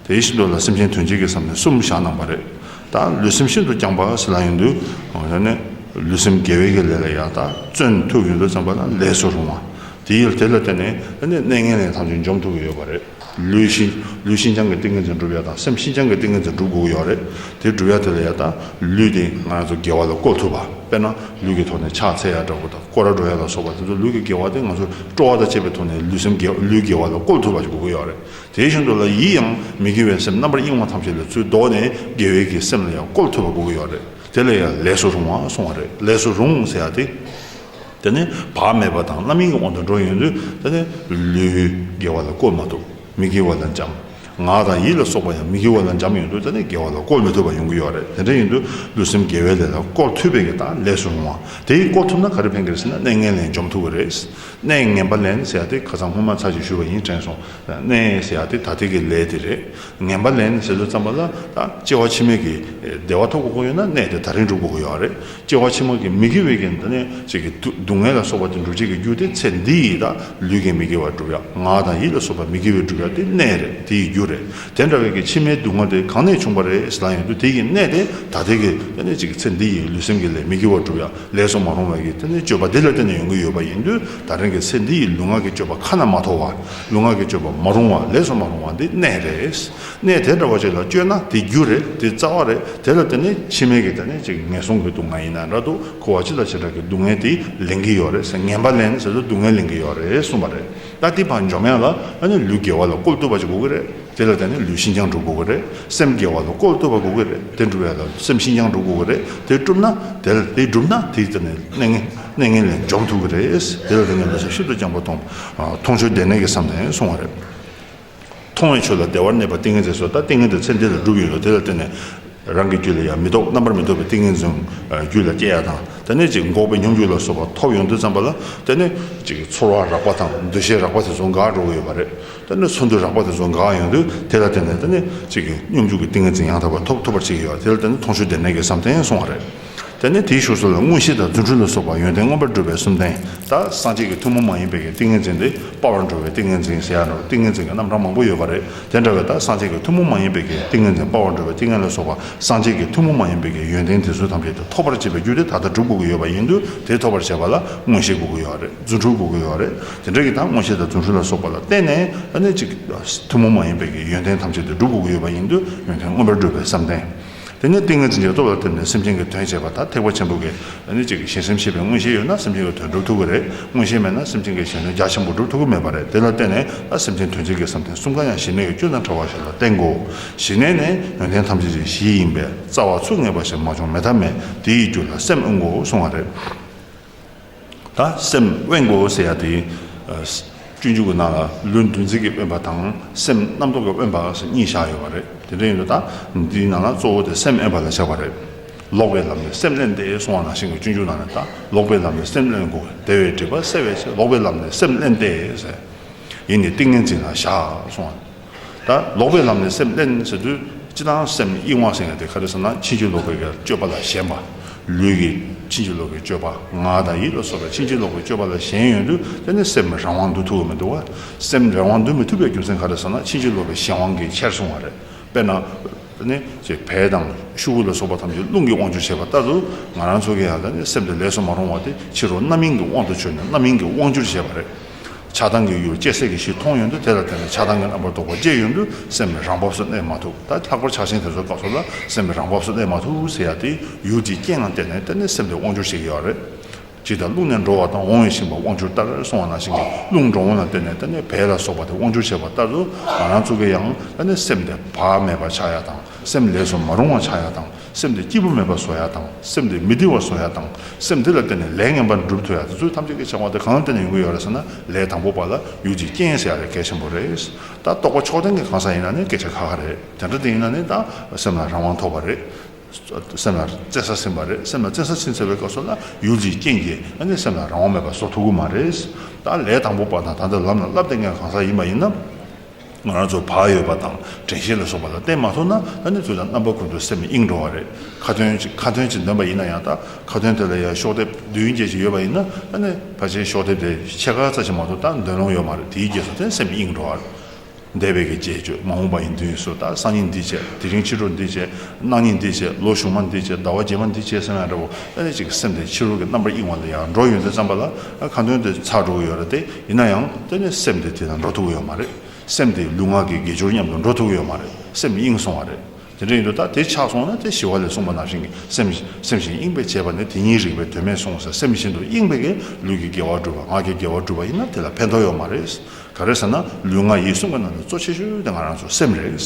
དེ་ཡེ་ཤེས་མདོ་ལ་སེམས་ཅན་དོན་བྱེད་ཀྱི་བསམ་གཏན་གསུམ་བཞག་གནང་བ་རེད། ད་ལུས་སེམས་ཤིན་ཏུ་བསྐྱངས་པ་སྲིད་ལ་ཡོད་དུས་ཡོད་ནས་ལུས་སེམས་དགེ་བའི་གི་ལས་ལ་ཡར་དག་བརྩོན་ཐུབ་ཡོད་དུ་བརྩམས་པ་ན་ལས་སུ་རུང་བ། དེ་ཡིས་དེ་ལ་བརྟེན་ནས་གནས་ངན་ལས་ཐམས་ཅད་འཇོམས་ཐུབ་ཀྱི་ཡོད་པ་རེད། ལུས་ལུས་ཤིན་སྦྱངས་ཀྱི་ཏིང་ངེ་འཛིན་བསྒྲུབ་ཡ་དང་སེམས་ཤིན་སྦྱངས་ཀྱི་ཏིང་ངེ་འཛིན་བསྒྲུབ་དགོས་ཀྱི་ཡོད་རེད། དེ་བསྒྲུབ་ཡ་དེ་ལ་ཡར་དག་ལུས་དེ་ང་ཚོ་དགེ་བ་ལ་བཀོལ་ཐུབ་པ་དཔེར་ན་ལུས་ཀྱི་ཐོག་ནས་ཕྱག་འཚལ་ཡ་འདྲ་བོ་དང་སྐོར་ར་འགྲོ་ཡ་ལ་སོགས་པ་དེ་ཚོ་ལུས་ཀྱི་དགེ་བ་དེ་ང་ཚོར་སྤྲོ་བ་དང་བཅས་པའི་ཐོག་ནས་ལུས་སེམས་ལུས་དགེ་བ་ལ་བཀོལ་ཐུབ་པ་ཞིག་དགོས་ཀྱི་ཡོད་རེད། དེ་བཞིན་དུ་ལ་ཡིད་ཡང་མི་དགེ་བའི་སེམས་རྣམ་པར་གཡེང་བ་ཐམས་ཅད་ལས་ཚུལ་བཟློག་ནས་དགེ་བའི་གི་སེམས་ལ་ཡང་བཀོལ་ཐུབ་པ་དགོས་ཀྱི་ཡོད་རེད། དེ་ལས་ཡང་ལས་སུ་རུང་བ་གསུང་བ་རེད་ལས་སུ་རུང་ཟེར་བ་དེ། དེ་ནི་བག་མེད་པ་དང་རྣམ་གཡེང་གི་དབང་དུ་འགྲོ་ཡོང་དུས་དེ་ནི་ལུས་དགེ་བ་ལ་བཀོལ་མ་ཐུབ། མི་དགེ་བ་ལ་འཇམ། ངག་དང་ཡིད་ལ་སོགས་པ་ཡང་མི་དགེ་བ་ལ་འཇམ་ཡོང་དུས་ད་ནི་དགེ་བ་ལ་བཀོལ་མི་ཐུབ་པ་ཡོང་གི་ཡོད་རེད་དེ་འདྲ་ཡིན་དུས་ལུས་སེམས་དགེ་བའི་ལས་ལ་བཀོལ་ཐུབ་པའི་གནས་སྟངས་ལེགས་སུ་འོང་བ་དེ་ཡིས་བཀོལ་ཐུབ་ན་ག་རེ་ཕན་ཁེར་ཟེར་ན་གནས་ངན་ལེན་འཇོམས་ཐུབ་པ་རེད། གནས་ངན་པ་ལེན་ཟེར་ཡ་དེ་ཁ་ཚང་སྔོན་མ་ཚར་གཅིག་བཞུས་པ་ཡིན་དྲན་སོང། གནས་ཟེར་ཡ་དེ་ད་ཐེངས་ཀྱི་ལས་དེ་རེད། ངན་པ་ལེན་ཟེར་ལོས་བརྩམས་པ་ལ་ད་སྐྱེ་བ་ཕྱི་མའི་གི་བདེ་བ་ཐོབ་དགོས་ཀྱི་ཡོད་ན་གནས་དེ་ད་རིང་སྒྲུབ་དགོས་ཀྱི་ཡོད་རེད། སྐྱེ་བ་ཕྱི་མ་གི་མི་དགེ་བའི་རྐྱེན་དང། ཅེས་ཀྱི། སྡུག་བསྔལ་ལ་སོགས་པ་དེ་འགྲུབ་བྱེད་ཀྱི་རྒྱུ་སྟེ་ཚེ་འདི་ཡིས་དང་ལུས་ཀྱི་མི་དགེ་བ་འགྲུབ་ཡང་ངག་དང་ཡིད་ལ་སོགས་པ་མི་དགེ་བའི་འགྲུབ་བྱ་སྟེ་གནས་རེད་དེ་ཡི་རྒྱུ་རེད། དེ་འདྲ་བའི་ཀྱི་ཕྱི་མའི་སྡུག་བསྔལ་དེ་གང་ནས་བྱུང་བ་རེད་ཟེར་ན་ཡང་དུ་དེ་ཡི་གནས་དེ་ད་ལྟའི་ཀྱི། ཅེས་ཀྱི་ཚེ་འདི་ཡིས་ལུས་སེམས་ཀྱི་ལས་མི་དགེ་བ་འགྲུབ་ཡང་ལས་སུ་མ་རུང་བའི་ཀྱི། སྤྱོད་པ་དེ་ལ་བརྟེན་ནས་ཡོང་གི་ཡོད་པ་ཡིན་དུས་ད་ཐེངས་ཀྱི་ཚེ་འདི་ཡིས་ལུས་ངག་གི་སྤྱོད་པ་ཁ་ན་མ་ཐོ་བ། ལུས་ངག་གི་སྤྱོད་པ་མ་རུང་བ་ལས་སུ་མ་རུང་བ་འདི་གནས་རེད། གནས་དེ་འདྲ་བ་ཞིག་ལ་བསྐྱོད་ན་དེ་རྒྱུ་རེད་དེ་རྩ་བ་རེད་དེ་ལ་བརྟེན་ནས་ཕྱི་མའི་གི་ད་ནས་ཅིག་ངན་སོང་གི་སྡུག་བསྔལ་ཡིན་ན་འདྲ་འདུག་ཁུ་བ་ཅི་ལ་ཅི་འདྲ་གི་སྡུག་བསྔལ་དེ་ལེན་གི་ཡོད་རེད་ཟེར་ངན་པ་ལེན་ཟེར་དུས་སྡུག་བསྔལ་ལེན་གི་ཡོད་རེད་གསུངས་པ་རེད་ད་དེ་བར་འཇོག་མེད་ལ་ཨ་ནི་ལུས་དགེ་བ་ལ་བཀོལ་བཏུབ་པ་ཅིག་དགོས་གི་རེད་དེ་ལ་བརྟེན་ནས་ལུས་ཤིན་སྦྱངས་འགྲུབ་དགོས་གི་རེད་སེམས་དགེ་བ་ལ་བཀོལ་བཏུབ་པ་དགོས་གི་རེད་དེ་འགྲུབ་བས་ལ་སེམས་ཤིན་སྦྱངས་འགྲུབ་དགོས་གི་རེད་དེ་བསྒྲུབ་ན་དེ་ལ་དེ་བསྒྲུབ་ན་དེ་ད་ནས་གནས་ངན་གནས་ངན་ལས་འཇོམས་ཐུབ་གི་རེད་དེ་ལ་བརྟེན་ནས་ལུས་སེམས་ཤིན་ཏུ་སྦྱངས་པ་མཐོང་མཐོང་ཆོས་བདེ་གནས་ཀི་བསམ་ནས་སོང་བ་རེད། མཐོང་བའི་ཆོས་ལ་བདེ་བར་གནས་པ་ཏིང་ངེ་འཛིན་སོགས་ལྟ་ཏིང་ངེ་འདོད་ཚད་འདི་ལ་སྒྲུབ་ཡུལ་ལ་དེ་ལ་བརྟེན་ནས་རང་གི་རྒྱུད་ལ་ཡང་མི་རྟོག་རྣམ་པར་མི་རྟོག་པའི་ཏིང་ངེ་འཛིན་རྒྱུད་ལ་སྐྱེ་ཡ་དང་དེ་ནས་ཅིག་འགོག་པའི་སྙོམས་འཇུག་ལ་སོགས་པ་ཐོབ་ཡོང་དུས་བརྩམས་པ་ལ་དེ་ནས་ཅིག་ཚོར་བ་རགས་པ་དང་འདུ་ཤེས་རགས་པ་དེ་ཚོ་འགག་འགྲོ་གི་ཡོད་པ་རེད་དེ་ནས་ཚོར་འདུ་རགས་པ་དེ་ཚོ་འགག་ཡོང་དུས་དེ་ལ་བརྟེན་ནས་དེ་ནས་ཅིག་སྙོམས་འཇུག་གི་ཏིང་ངེ་འཛིན་ཡང་དག་པར་ཐོབ་ཐུབ་པར་བྱེད་ཀྱི་ཡོད་པ་དེ་ལ་བརྟེན་ནས་མཐོང་ཆོས་བདེན་གནས་ཀྱི་བསམ་གཏན་སོང་བ་རེད། དེ་ནས་དེའི་ཞོར་སོགས་པའི་དངོས་གཞི་དང་རྫུ་འཕྲུལ་ལ་སོགས་པ་ཡོན་ཏན་མངོན་པར་སྒྲུབ་པའི་སུམ་ལྡན་དག་སངས་རྒྱས་ཀྱི་ཐུན་མོང་མ་ཡིན་པའི་ཏིང་ངེ་འཛིན་ཏེ་དཔའ་བར་འགྲོ་བའི་ཏིང་ངེ་འཛིན་ཞེས་ཡང་ཏིང་ངེ་འཛིན་གྱི་རྣམ་གྲངས་མང་པོ་ཡོད་པ་རེད་དེ་འདྲ་བའི་དག་སངས་རྒྱས་ཀྱི་ཐུན་མོང་མ་ཡིན་པའི་ཏིང་ངེ་འཛིན་དཔའ་བར་འགྲོ་བའི་ཏིང་ངེ་ལ་སོགས་པ་སངས་རྒྱས་ཀྱི་ཐུན་མོང་མ་ཡིན་པའི་ཡོན་ཏན་དེ་ཚུལ་ཐམས་ཅད་དུ་ཐོབ་པར་བྱེད་པའི་རྒྱུ་དེ་ད་ལྟ་སྒྲུབ་དགོས་ཀྱི་ཡོད་པ་ཡིན་དུས་དེ་ཐོབ་པར་བྱེད་པ་ལ་དངོས་གཞི་དགོས་ཀྱི་ཡོད་རེད་རྫུ་འཕྲུལ་དགོས་ཀྱི་ཡོད་རེད་དེ་འདྲ་གྱི་དག་དངོས་གཞི་དང་རྫུ་འཕྲུལ་ལ་སོགས་པ་ལ་བརྟེན་ནས་ཐུན་མོང་མ་ཡིན་པའི་ཡོན་ཏན་ཐམས་ཅད་དུ་སྒྲུབ་དགོས་ཀྱི་ཡོད་པ་ཡིན་དུས་ཡོན་ཏན་མངོན་པར་སྒྲུབ་པའི་བསམ་གཏན། དེ་ནི་ཏིང་ངེ་འཛིན་གྱི་སྟོབས་ལ་བརྟེན་ནས་སེམས་ཅན་གྱི་དོན་བྱེད་པ་དང་ཐེག་པ་ཆེན་པོ་གནད་གཅིག་གི་ཞིང་སེམས་ཤེས་པའི་མངོན་ཤེས་ཡོད་ན་སེམས་ཅན་གྱི་དོན་སྒྲུབ་ཐུབ་ཀྱི་རེད་མངོན་ཤེས་མེད་ན་སེམས་ཅན་གྱི་གཞན་དོན་རྒྱ་ཆེན་པོ་སྒྲུབ་ཐུབ་ཀྱི་མེད་པ་རེད་དེ་ལ་བརྟེན་ནས་ད་སེམས་ཅན་དོན་བྱེད་ཀྱི་བསམ་གཏན་གསུམ་ག་ཡང་ཞི་གནས་ཀྱི་སྐྱོན་དང་བྲལ་བ་ཞིག་ལ་བརྟེན་དགོས་ཞི་གནས་ནི་ཡོན་ཏན་ཐམས་ཅད་ཀྱི་གཞི་ཡིན་པས་རྩ་བ་ཚུགས་ངེས་པ་ཞིག་མ་བྱུང་མེད་ཐབས་མེད་དེ་ཡི་རྒྱུ་ལ་སེམས་དབེན་དགོས་གསུངས་བ་རེད། དང། སེམས་དབེན་དགོས་ཟེར་ཡ་དེ། སྤྱོད་འཇུག་གི་ནང་ལ་ལུས་འདུ་འཛི་གི་དབེན་པ་དང་སེམས་རྣམ་རྟོག་གི་དབེན་པ་སོགས་གཉིས་བཞག་ཡོད་པ་རེད། དེ་འདྲ་ཡིན་ལ། དེའི་ནང་ལ་གཙོ་བོ་དེ་སེམས་དབེན་པ་ལ་བྱ་བ་རེད། ལོག་པའི་ལམ་ནས་སེམས་བསླན་ཏེ་སོང་བ་ནང་བཞིན་གྱི་སྤྱོད་འཇུག་ནང་ནས་ད་ལོག་པའི་ལམ་ནས་སེམས་བསླན་དགོས་དེ་བས་སྒྲིབ་པ་སེལ་བའི་ཕྱིར་ལོག་པའི་ལམ་ནས་སེམས་བསླན་ཏེ། ཡིན་ནི་ཏིང་ངེ་འཛིན་ལ་བཞག་སོང་བ། ད་ལོག་པའི་ལམ་ནས་སེམས་བརླན་ཟེར་དུས་ཅི་སྟངས་སེམས་ཡིད་དབང་སེང་ཡང་དེ་ག་རེ་བསམ་ན་ཕྱིན་ཅི་ལོག་པའི་སྤྱོད་པ་ལ་ཞེན་པ། ལུས་ཀྱི་ཕྱིན་ཅི་ལོག་པའི་སྤྱོད་པ་ངག་དང་ཡིད་ལ་སོགས་པའི་ཕྱིན་ཅི་ལོག་པའི་སྤྱོད་པ་ལ་ཞེན་ཡོད་དུས་དེ་ནི་སེམས་རང་དབང་འདུ་ཐུབ་བ་མི་འདུག་བ། སེམས་རང་དབང་འདུ་མི་ཐུབ་པའི་རྒྱུ་མཚན་ག་རེ་བསམ་ན་ཕྱིན་ཅི་ལོག་པའི་གཞན་དབང་གིས་ཁྱེར་སོང་བ་རེད། དཔེར་ན། ད་ནི་བལ་དང་ཤུ་གུ་ལ་སོགས་པ་ཐམས་ཅད་རླུང་གིས་དབང་བཅུ་བྱས་པ་ལྟར་དུ་ང་རང་ཚོ་གི་ཡང་ད་ནི་སེམས་དེ་ལས་སུ་མ་རུང་བ་དེ་ཕྱིར་རོ་རྣམ་སྨིན་གྱི་དབང་དུ་བྱོན་ནས་རྣམ་སྨིན་གྱིས་དབང་བཅུར་བྱས་པ་རེད། ཆགས་སྡང་གི་ཡུལ་སྐྱེ་སྲིད་ཀྱི་གཞི་མཐོང་ཡོང་དུས་དེ་ལ་བརྟེན་ནས་ཆགས་སྡང་གི་རྣམ་པར་རྟོག་པ་སྐྱེ་ཡོང་དུས་སེམས་ནི་རང་བབས་སུ་གནས་མ་ཐུབ་ད་ལྷག་པར་ཆགས་ཞེན་དེ་ཚོའི་སྐབས་སུ་ལ་སེམས་ནི་རང་བབས་སུ་གནས་མ་ཐུབ་ཟེར་ཡག་དེ་ཡུལ་དེའི་རྐྱེན་ངང་བལྟས་ནས་བལྟས་ནས་སེམས་དེ་དབང་འགྱུར་བྱེད་ཀྱི་ཡོད་རེད། ཅིག་ད་རླུང་ནས་འགྲོ་བ་དང་འོང་བའི་ཤིང་བ་དབང་འགྱུར་ལྟར་སོང་བ་ནང་བཞིན་གྱི་རླུང་འགྲོ་འོང་ལ་བལྟས་ནས་བལྟས་ནས་བལ་ལ་སོགས་པ་དེ་དབང་འགྱུར་བྱེད་པ་ལྟར་དུ་ང་རང་ཚུགས་ཀྱི་ཡང་བལྟས་ནས་སེམས་དེ་བག་མེད་པ་ཆགས་ཡག་དང་སེམས་ལས་སུ་མ་རུང་བ་ཆགས་ཡག་དང། སེམས་དེ་སྐྱིད་པོ་མེད་པར་བཟོ་ཡག་དང་སེམས་དེ་མི་བདེ་བར་བཟོ་ཡག་དང་སེམས་དེ་ལ་བརྟེན་ནས་ལས་ངན་པ་འགྲུབ་ཐུབ་ཡག་དེ་ཚོའི་ཐམས་ཅད་ཀྱི་བྱ་བ་དེ་གང་ལ་བརྟེན་ནས་ཡོང་གི་ཡོད་རེད་ཟེར་ན་ལས་དང་པོ་པ་ལ་ཡུལ་གྱི་རྐྱེན་ཟེར་ཡག་རེད་གལ་ཆེན་པོ་རེད། ད་རྟོགས་པ་ཕྱོགས་ལྡན་གྱི་གང་ཟག་ཡིན་ན་ནི་སྐད་ཆ་ཁ་ཁ་རེད་དེ་འདྲ་དེ་ཡིན་ན་ནི་ད་སེམས་ལ་རང་དབང་ཐོབ་པ་རེད། སེམས་ལ་བརྩེ་ས་ཟིན་པ་རེད་སེམས་ལ་བརྩེ་ས་ཕྱིན་ཚར་བའི་སྐབས་སུ་ན་ཡུལ་གྱི་རྐྱེན་གྱིས་ཨ་ནི་སེམས་ལ་རང་དབང་མེད་པ་བཟོ་ཐུབ་གི་མ་རེད། ད་ལས་དང་པོ་པ་ན་ད་འདི་ལམ་ལ་སླབ་བསྡད་མཁན་གང་ཟག་ཡིན་པ་ཡིན་ན། ང་རང་ཚོ་བག་ཡོད་པ་དང་དྲན་ཤེས་ལ་སོགས་པ་ལ་བརྟེན་མ་ཐུབ་ན་ད་ནི་ཚོད་དང་རྣམ་པ་ཀུན་ཏུ་སེམས་གཡེངས་འགྲོ་བ་རེད། ཁ་དོན་གཅིག་ཁ་དོན་གཅིག་འདོན་པ་ཡིན་ན་ཡང་དག་ཁ་དོན་དེ་ལ་ཡང་ཤོག་ལྡེབ་བདུན་བརྒྱད་ཅིག་ཡོད་པ་ཡིན་ན་ད་ནི་ཕལ་ཆེར་ཤོག་ལྡེབ་དེ་ཕྱེད་ཀ་རྩ་ཆེ་མ་གཏོགས་ད་འདོན་ལོང་ཡོད་མ་རེད་དེའི་རྗེས་སུ་བརྟེན་སེམས་གཡེངས་འགྲོ་བ་རེད། འདས་པའི་གི་རྗེས་གཅོད་མ་འོངས་པ་ཡི་མདུན་སུ་ད་སང་ཉིན་འདི་བྱས་དེ་རིང་ཕྱི་དྲོ་འདི་བྱས་གནངས་ཉིན་འདི་བྱས་ལོ་གཞུག་མ་འདི་བྱས་ཟླ་བ་བརྒྱད་མ་འདི་བྱས་ཟེར་ན་འདྲ་བོ་ད་ནི་གཅིག་སེམས་དེ་ཕྱི་རོལ་གྱི་རྣམ་པར་གཡེངས་བ་ལ་ཡང་འགྲོ་ཡོད་མཛད་བརྩམས་པ་ལ་ཁ་འདོན་དེ་ཚར་འགྲོ་གི་ཡོད་རེད་དེ། ཡིན་ན་ཡང་དེ་ནི་སེམས་དེ་དེ་དང་འགྲོ་ཐུག་གི་ཡོད་མ་རེད། སེམས་དེ་ལུས་ངག་གི་དགེ་སྦྱོར་མཉམ་དུ་འགྲོ་ཐུག་གི་ཡོད་མ་རེད། སེམས་དབྱིངས་སོང་བ་རེད། དེ་འདྲ་ཡིན་དུས་ད་དེ་ཆགས་སོང་ན་དེ་ཞི་བ་ལས་གསུངས་པ་ནང་བཞིན་གྱི་སེམས་སེམས་བཞིན་གཡེངས་པས་བྱས་པ་ནི་དེ་ཉིད་རིགས་པའི་དོན་མེད་སོང་ཟེར་སེམས་བཞིན་དུ་གཡེངས་པས་གིས་ལུས་ཀྱི་དགེ་བ་བསྒྲུབ་པ་ངག་གི་དགེ་བ་བསྒྲུབ་པ་ཡིན་ན་དེ་ལ་ཕན་ཐོགས་ཡོད་མ་རེད། ག་རེ་ཟེར་ན་ལུས་ངག་ཡིད་གསུམ་གྱི་ནང་དུ་གཙོ་ཆེ་ཤོས་དེ་ང་རང་ཚོ་སེམས་རེད།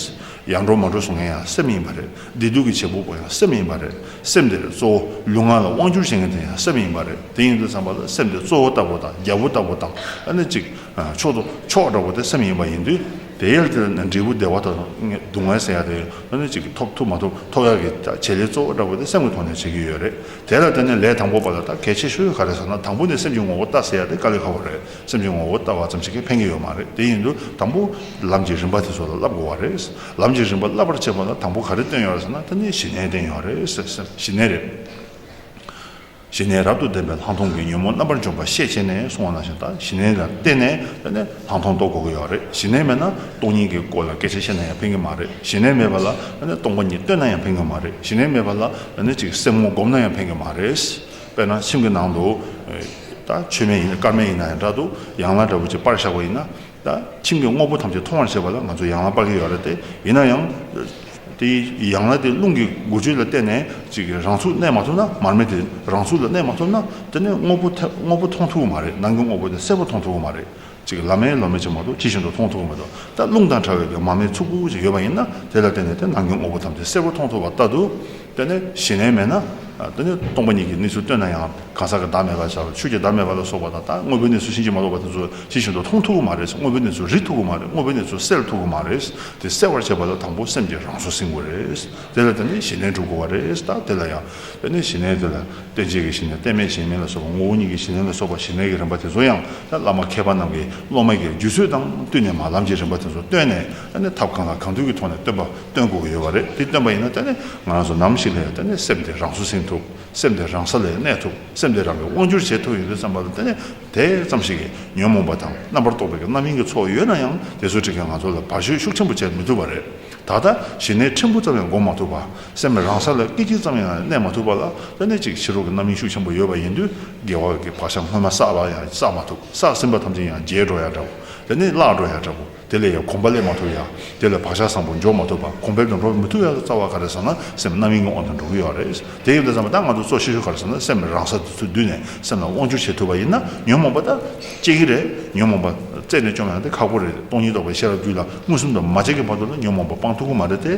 ཡང་འགྲོ་མ་འགྲོ་བཟོ་མཁན་ཡང་སེམས་ཡིན་པ་རེད། བདེ་སྡུག་གི་བྱེད་པོ་པོ་ཡང་སེམས་ཡིན་པ་རེད། སེམས་དེ་ལས་གཙོ་བོ་ལུས་ངག་ལ་དབང་བསྒྱུར་བྱེད་མཁན་དེ་ཡང་སེམས་ཡིན་པ་རེད། དེ་ཡིན་དུ་བསམ་པ་ལ་སེམས་དེ་གཙོ་བོ་ལྟ་བུ་དང་རྒྱལ་པོ་ལྟ་བུ་དང་ཨ་ནི་ཅིག། མཆོག་ཏུ་མཆོག་འདྲ་བོ་དེ་སེམས་ཡིན་པ་ཡིན་དུས། དེའི་ལྟེ་བ་ནས་འབྲས་བུ་བདེ་བ་དང་སྡུག་བསྔལ་ཟེར་ཡག་དེ་ཨ་ནི་ཅིག་ཐོབ་ཐུབ་མ་ཐུབ་ཐོབ་ཡག་གི་བྱེད་ལས་གཙོ་བོ་འདྲ་བོ་དེ་སེམས་ཀྱི་ཐོག་ནས་བྱེད་ཀྱི་ཡོད་རེད། དེ་ལ་བརྟེན་ནས་ལས་དང་པོ་པ་ལ་ལྟ་གལ་ཆེ་ཤོས་ག་རེད་ཟེར་ན་དང་པོ་ནི་སེམས་ཀྱི་ངོ་བོ་ལྟ་ཟེར་ཡག་དེ་དཀའ་ལས་ཁག་པོ་རེད། སེམས་ཀྱི་ངོ་བོ་ལྟ་བ་ཙམ་ཞིག་གིས་ཕན་གྱི་ཡོད་མ་རེད་དེ་ཡིན་དུས་དང་པོ་ལམ་གྱི་རིམ་པ་དེ་ཚོ་ལ་བསླབ་དགོས་བ་རེད། ལམ་གྱི་རིམ་པ་བསླབ་པར་བྱེད་པ་ལ་དང་པོ་ག་རེ་བཏོན་ཡོད་རེད་ཟེར་ན་དེ་ནི་ཞི་གནས་བསྟན་ཡོད་རེད་ཟེར་ཞི་གནས་རེད། ཞི་གནས་རབ་ཏུ་ལྡན་པའི་ལྷག་མཐོང་གི་ཉོན་མོངས་རྣམ་པར་འཇོམས་པ་ཤས་ཆེ་ནས་སོང་བ་ན་ཞེ་ད་ཞི་གནས་ལ་བརྟེན་ནས་ད་ནི་ལྷག་མཐོང་རྟོགས་དགོས་ཀྱི་ཡོད་རེད་ཞི་གནས་མེད་ན་སྟོང་ཉིད་ཀྱི་སྐོར་ལ་སྐད་ཆ་བཤད་ན་ཡང་ཕན་གྱི་མ་རེད་ཞི་གནས་མེད་པ་ལ་ད་ནི་སྟོང་པ་ཉིད་བསྟོད་ན་ཡང་ཕན་གྱི་མ་རེད་ཞི་གནས་མེད་པ་ལ་ད་ནི་ཅིག་སེམས་ངོ་སྒོམ་ན་ཡང་ཕན་གྱི་མ་རེད། དཔེར་ན་ཁྱིམ་གྱི་ནང་དུ། ད་ཆོས་མེད་ཡིན་ནའི་སྐར་མེད་ཡིན་ན་ཡང་འདྲ་འདུག་ཡང་ལ་འདྲ་བོ་ཅིག་པར་བཞག་པ་ཡིན་ན། ད་ཁྱིམ་གྱི་དངོས་པོ་ཐམས་ཅད་མཐོང་བར་བྱེད་པ་ལ་ང་ཚོས་ཡང་ལ་དཔག་གི་ཡོད་རེད་དེ། ཡིན་ན་ཡང། དེ་ཡང་ལ་དེ་རླུང་གི་འགུལ་སྤྱོད་ལ་བརྟེན་ནས་ཅིག་རང་ཚུགས་གནས་མ་ཐུབ་ན་མར་མེ་དེ་རང་ཚུགས་ལ་གནས་མ་ཐུབ་ན་དེ་ནི་དངོས་པོ་དངོས་པོ་མཐོང་ཐུབ་ཀྱི་མ་རེད་ནང་གི་དངོས་པོ་དེ་གསལ་པོ་མཐོང་ཐུབ་ཀྱི་མ་རེད་ཅིག་ལ་མེ་ལོ་མེ་ཅིག་མ་གཏོགས་ཅི་བཞིན་དུ་མཐོང་ཐུབ་ཀྱི་མི་འདུག་ད་རླུང་དང་ཕྲ་བའི་གི་མ་མེ་ཚུགས་པོ་ཅིག་ཡོད་པ་ཡིན་ན་དེ་ལ་བརྟེན་ནས་དེ་ནང་གི་དངོས་པོ་ཐམས་ཅད་གསལ་པོ་མཐོང་ཐུབ་པ་ལྟ་དུ། དེ་ནི་གཞི་ལྷན་མེད་ན། དེ་ནི་སྟོང་པ་ཉིད་ཀྱི་གནས་ཚུལ་སྟོན་ན་ཡང་གང་ཟག་གི་བདག་མེད་པར་བྱ་བར་ཆོས་ཀྱི་བདག་མེད་པ་ལ་སོགས་པ་དང་དང་དངོས་པོའི་གནས་ཚུལ་ཕྱིན་ཅི་མ་ལོག་པ་དེ་ཚོ་ཤེས་བཞིན་དུ་མཐོང་ཐུབ་པོ་མ་རེད་དངོས་པོའི་གནས་ཚུལ་རིག་ཐུབ་པོ་མ་རེད་དངོས་པོའི་གནས་ཚུལ་སེལ་ཐུབ་པོ་མ་རེད་དེ་སེལ་བར་བྱེད་པ་ལ་དང་པོ་སེམས་ཀྱི་རང་བཟོ་ཟིན་དགོས་རེད་དེ་ལ་དེ་ནི་གཞི་ལྷན་གྲུབ་དགོས་བ་རེད་ད་དེ་ལ་ཡང། དེ་ནི་གཞི་ལྷན་དེ་ལ་རྟེན་བྱེད་ཀྱི་གཞི་ནས་རྟེན་མེད་གཞན་མེད་ལ་སོགས་པ་ངོ་བོ་ཉིད་ཀྱི་གཞི་ལྷན་ལ་སོགས་པ་གཞི་ལྷན་གྱི་རིམ་པ་དེ་ཚོ་ཡང་ད་བླ་མ་མཁས་པ་རྣམས་ཀྱིས་སློབ་མ་ཀྱི་རྒྱུད་ཚོད་དང་བསྟུན་ནས་མ་ལམ་གྱི་རིམ་པ་དེ་ཚོ་བཏོན་ནས་ད་ནི་ཐབས་གང་དང་གང་དུས་ཀྱི་ཐོག་ནས་སྟོན་པ། སྟོན་དགོས་ཀྱི་ཡོད་པ་རེད་དེ་སྟོན་པ་ཡིན་ན་ད་ནི་ང་རང་ཚོ་ནམ་ཞིག་ལ་ཡང་ད་ནི་སེམས་དེ་རང་སུ་ཟིན་ཐུབ་སེམས་དེ་རང་ས་ལས་གནས་ཐུབ་སེམས་དེ་རང་གིས་དབང་བསྒྱུར་བྱེད་ཐུབ་ཡོད་དུས་བསམ་པ་ལ་ད་ནི་དེ་ཙམ་ཞིག་གིས་ཉོན་མོངས་པ་དང་རྣམ་པར་རྟོག་པའི་རྣམ་གཡེང་གི་ཚོགས་ཡོད་ན་ཡང་དེ་ཚོའི་ཁྲིད་ཀྱིས་ང་ཚོ་ལ་བར་གཞོལ་ཤུགས་ཆེན་པོ་བྱེད་མི་ཐུབ་པ་རེད་ད་ལྟ་ཞི་གནས་ཕྲན་བུ་ཙམ་ཡང་འགོག་མ་ཐུབ་པ་སེམས་རང་ས་ལ་སྐད་ཅིག་ཙམ་ཡང་གནས་མ་ཐུབ་པ་ལ་ད་ནི་ཅིག་ཕྱི་རོལ་གྱི་རྣམ་གཡེང་ཤུགས་ཆེན་པོ་ཡོད་པ་ཡིན་དུས་དགེ་བ་གི་བག་ཆགས་སྔོན་མ་བསགས་པ་ཡང་བསགས་མ་ཐུབ་བསགས་ཟིན་པ་ཐམས་ཅད་ཡང་བརྗེད་འགྲོ་ཡག་འདྲ་བོ་ད་ནི་བརླག་འགྲོ་ཡག་འདྲ་བོ། དེ་ལས་ཡང་གོམས་པ་ལས་མ་ཐུབ་ཡང་དེ་ལས་བག་ཆགས་བཟང་པོ་འཇོག་མ་ཐུབ་པར་གོམས་པའི་འགྲོ་འཕྲོ་མི་ཐུབ་ཡང་རྩ་བ་ག་རེ་བཟང་ན་སེམས་རྣམ་གཡེང་འོག་ཏུ་འགྲོ་གི་ཡོད་རེད། དེ་ཡིན་དུས་ཙམ་ལ་ད་ང་ཚོ་གཙོ་ཤེས་ཤོས་ག་རེ་ཟེར་ན་སེམས་རང་ས་དེ་ཚོའི་མདུན་ནས་སེམས་ལ་དབང་བསྒྱུར་བྱེད་ཐུབ་པ་ཡིན་ན་ཉོན་མོངས་པ་ད་སྐྱེ་གི་རེད་ཉོན་མོངས་པ་རྩད་ནས་བཅོམ་ཡང་དེ་ཁག་པོ་རེད་སྟོང་ཉིད་རྟོགས་པའི་ཤེས་རབ་རྒྱུད་ལ་མངོན་སུམ་དུ་མ་བྱས་ཀི་བར་དུ་ལ་ཉོན་མོངས་པ་སྤང་ཐུབ་ཀི་མ་རེད་དེ།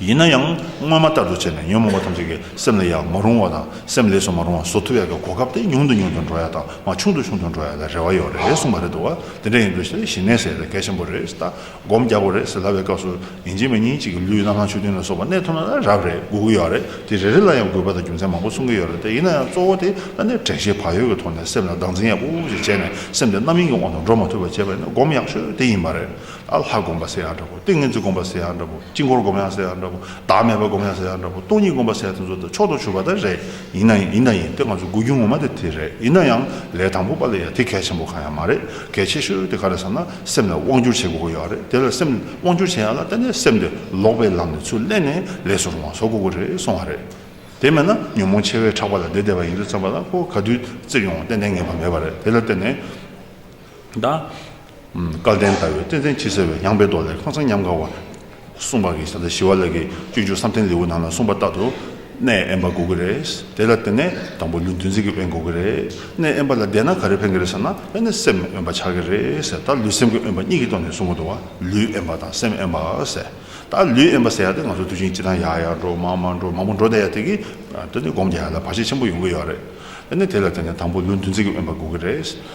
ཡིན་ན་ཡང་སྔོན་མ་ལྟར་དུ་བྱས་ནས་ཉོན་མོངས་པ་ཐམས་ཅད་ཀྱི་སེམས་ལས་ཡར་མ་རུང་བ་དང་སེམས་ལས་སུ་མ་རུང་བ་བཟོ་ཐུབ་ཡག་གི་གོ་སྐབས་དེ་ཉུང་དུ་ཉུང་དུ་འགྲོ་ཡག་དང་མ་ཆུང་དུ་ཆུང་དུ་འགྲོ་ཡག་ལ་རེ་བ་ཡོད་རེད་གསུངས་པ་རེད་འདུག་བ་དེ་འདྲ་ཡིན་དུས་ཞེ་ཞིང་ནད་ཟེར་བའི་སྐད་ཆེན་པོ་རེད་ལྟ་སྒོམ་རྒྱག་དགོས་རེད་ཟེར་ལབ་པའི་སྐབས་སུ་ཉིན་གཅིག་མ་ཉིན་གཅིག་གི་ལུས་རྣམ་སྣང་ཆོས་མཐུན་ལ་སོགས་པ་གནས་ཐུབ་ན་རབ་རེད་སྒུག་གི་ཡོད་རེད་དེ་རེ་རེ་ལ་ཡང་དགོས་པ་དང་རྒྱུ་མཚན་མང་པོ་གསུང་གི་ཡོད་རེད་ལྟ་ཡིན་ན་ཡང་གཙོ་བོ་དེ་ལ་ནི་དྲན་ཤེས་བག་ཡོད་ཀྱི་ཐོག་ནས་སེམས་ལ་སྡང་འཛིན་ཡག་པོ་ཞིག་བྱས་ནས་སེམས་དེ་རྣམ་གཡེང་གི་དབང་དུ་འགྲོ་མ་ཐུབ་པ་བྱེད་པ་ནི་སྒོམ་ཡག་ཤོས་དེ་ཡིན་པ་རེད། ཨ་ལྷ་སྒོམ་པ་ཟེར་ཡང་འདྲ་བོ། ཏིང་ངེ་འཛིན་སྒོམ་པ་ཟེར་ཡང་འདྲ་བོ། དཀྱིལ་འཁོར་སྒོམ་ཡང་ཟེར་ཡང་འདྲ་བོ། བདག་མེད་པ་སྒོམ་ཡང་ཟེར་ཡང་འདྲ་བོ། སྟོང་ཉིད་སྒོམ་པ་ཟེར་ཡང་དེ་ཚོ་དང་ཕྱོགས་དང་ཆུ་བ་དང་རེད། ཡིན་ན་ཡིན། ཡིན་ན་ཡིན། དེ་ང་ཚོའི་དགོས་རྒྱུ་ངོ་མ་དེ་དེ་རེད། ཡིན་ན་ཡང། ལས་དང་པོ་པ་ལ་ཡང་དེ་གལ་ཆེན་པོ་གང་ཡང་མ་རེད། གལ་ཆེ་ཤོས་དེ་ག་རེད་བསམ་ན་སེམས་ལ་དབང་བསྒྱུར་བྱེད་དགོས་ཀྱི་ཡོད་རེད། དེ་ལ་སེམས་དབང་བསྒྱུར་བྱེད་ཡག་ན་གཏན་ནས་སེམས་དེ་ལོག་པའི་ལམ་ནས་ཚུར་གླན་ནས་ལས་སུ་རུང་བ་བཟོ་དགོས་ཀྱི་རེད་གསུང་བ་རེད། དེ་མེད་ན་ཉོན་མོངས་ཆེ་བས་ཁྲག་པ་ལ་བདེ་བདེ་བ་ཡིན་དུས་བརྩམས་པ་ལ་ཁོ་ག་དུས་བཙིར་ཡོང་བ་གཏན་ནས་ངེས་པ་མེད་པ་རེད་དེ་ལ་བརྟེན་ནས། བདག། སྐལ་ལྡན་ལྟ་བའི་བསྟན་འཛིན་ཕྱི་གསལ་བའི་ཡངས་པའི་མདོ་ལས་ཁང་བཟང་ཉམས་དགའ་བར། གསུངས་པ་གིས་ད་ལྟ་ཞི་བ་ལགས་ཀྱི་སྤྱོད་འཇུག་བསམ་གཏན་ལེའུ་ནང་ལ་གསུངས་པ་ལྟར་དུ། གནས་དབེན་པ་འགོག་གི་རེད། དེ་ལ་བརྟེན་ནས་དང་པོ་ལུས་འདུ་འཛི་གི་དབེན་འགོག་གི་རེད། གནས་དབེན་པ་ལ་བསྡད་ན་ག་རེ་ཕན་གི་རེད་ཟེར་ན་དབེན་ནས་སེམས་དབེན་པ་ཆགས་ཀྱི་རེད་ཟེར་ད་ལུས་སེམས་ཀྱི་དབེན་པ་གཉིས་ཀྱི་ཐོག་ནས་གསུངས་གི་འདུག་བ་ལུས་དབེན་པ་དང་སེམས་དབེན་པ་ཟེར། ད་ལུས་དབེན་པ་ཟེར་ཡག་དེ་ང་ཚོ་དུས་ཆེན་སྤྱི་དང་ཡག་ཡག་འགྲོ་མང་མང་འགྲོ་མང་པོ་འགྲོ་བསྡད་ཡག་དེ་གི་ད་ནི་སྒོམ་རྒྱ་ཡག་ལ་བར་ཆད་ཆེན་པོ་ཡོང་གི་ཡོད་རེད། དེ་ནས་དེ་ལ་བརྟེན་ནས་དང་པོ་ལུས་འདུ་འཛི་གི་དབེན་པ་འགོག་གི་རེད།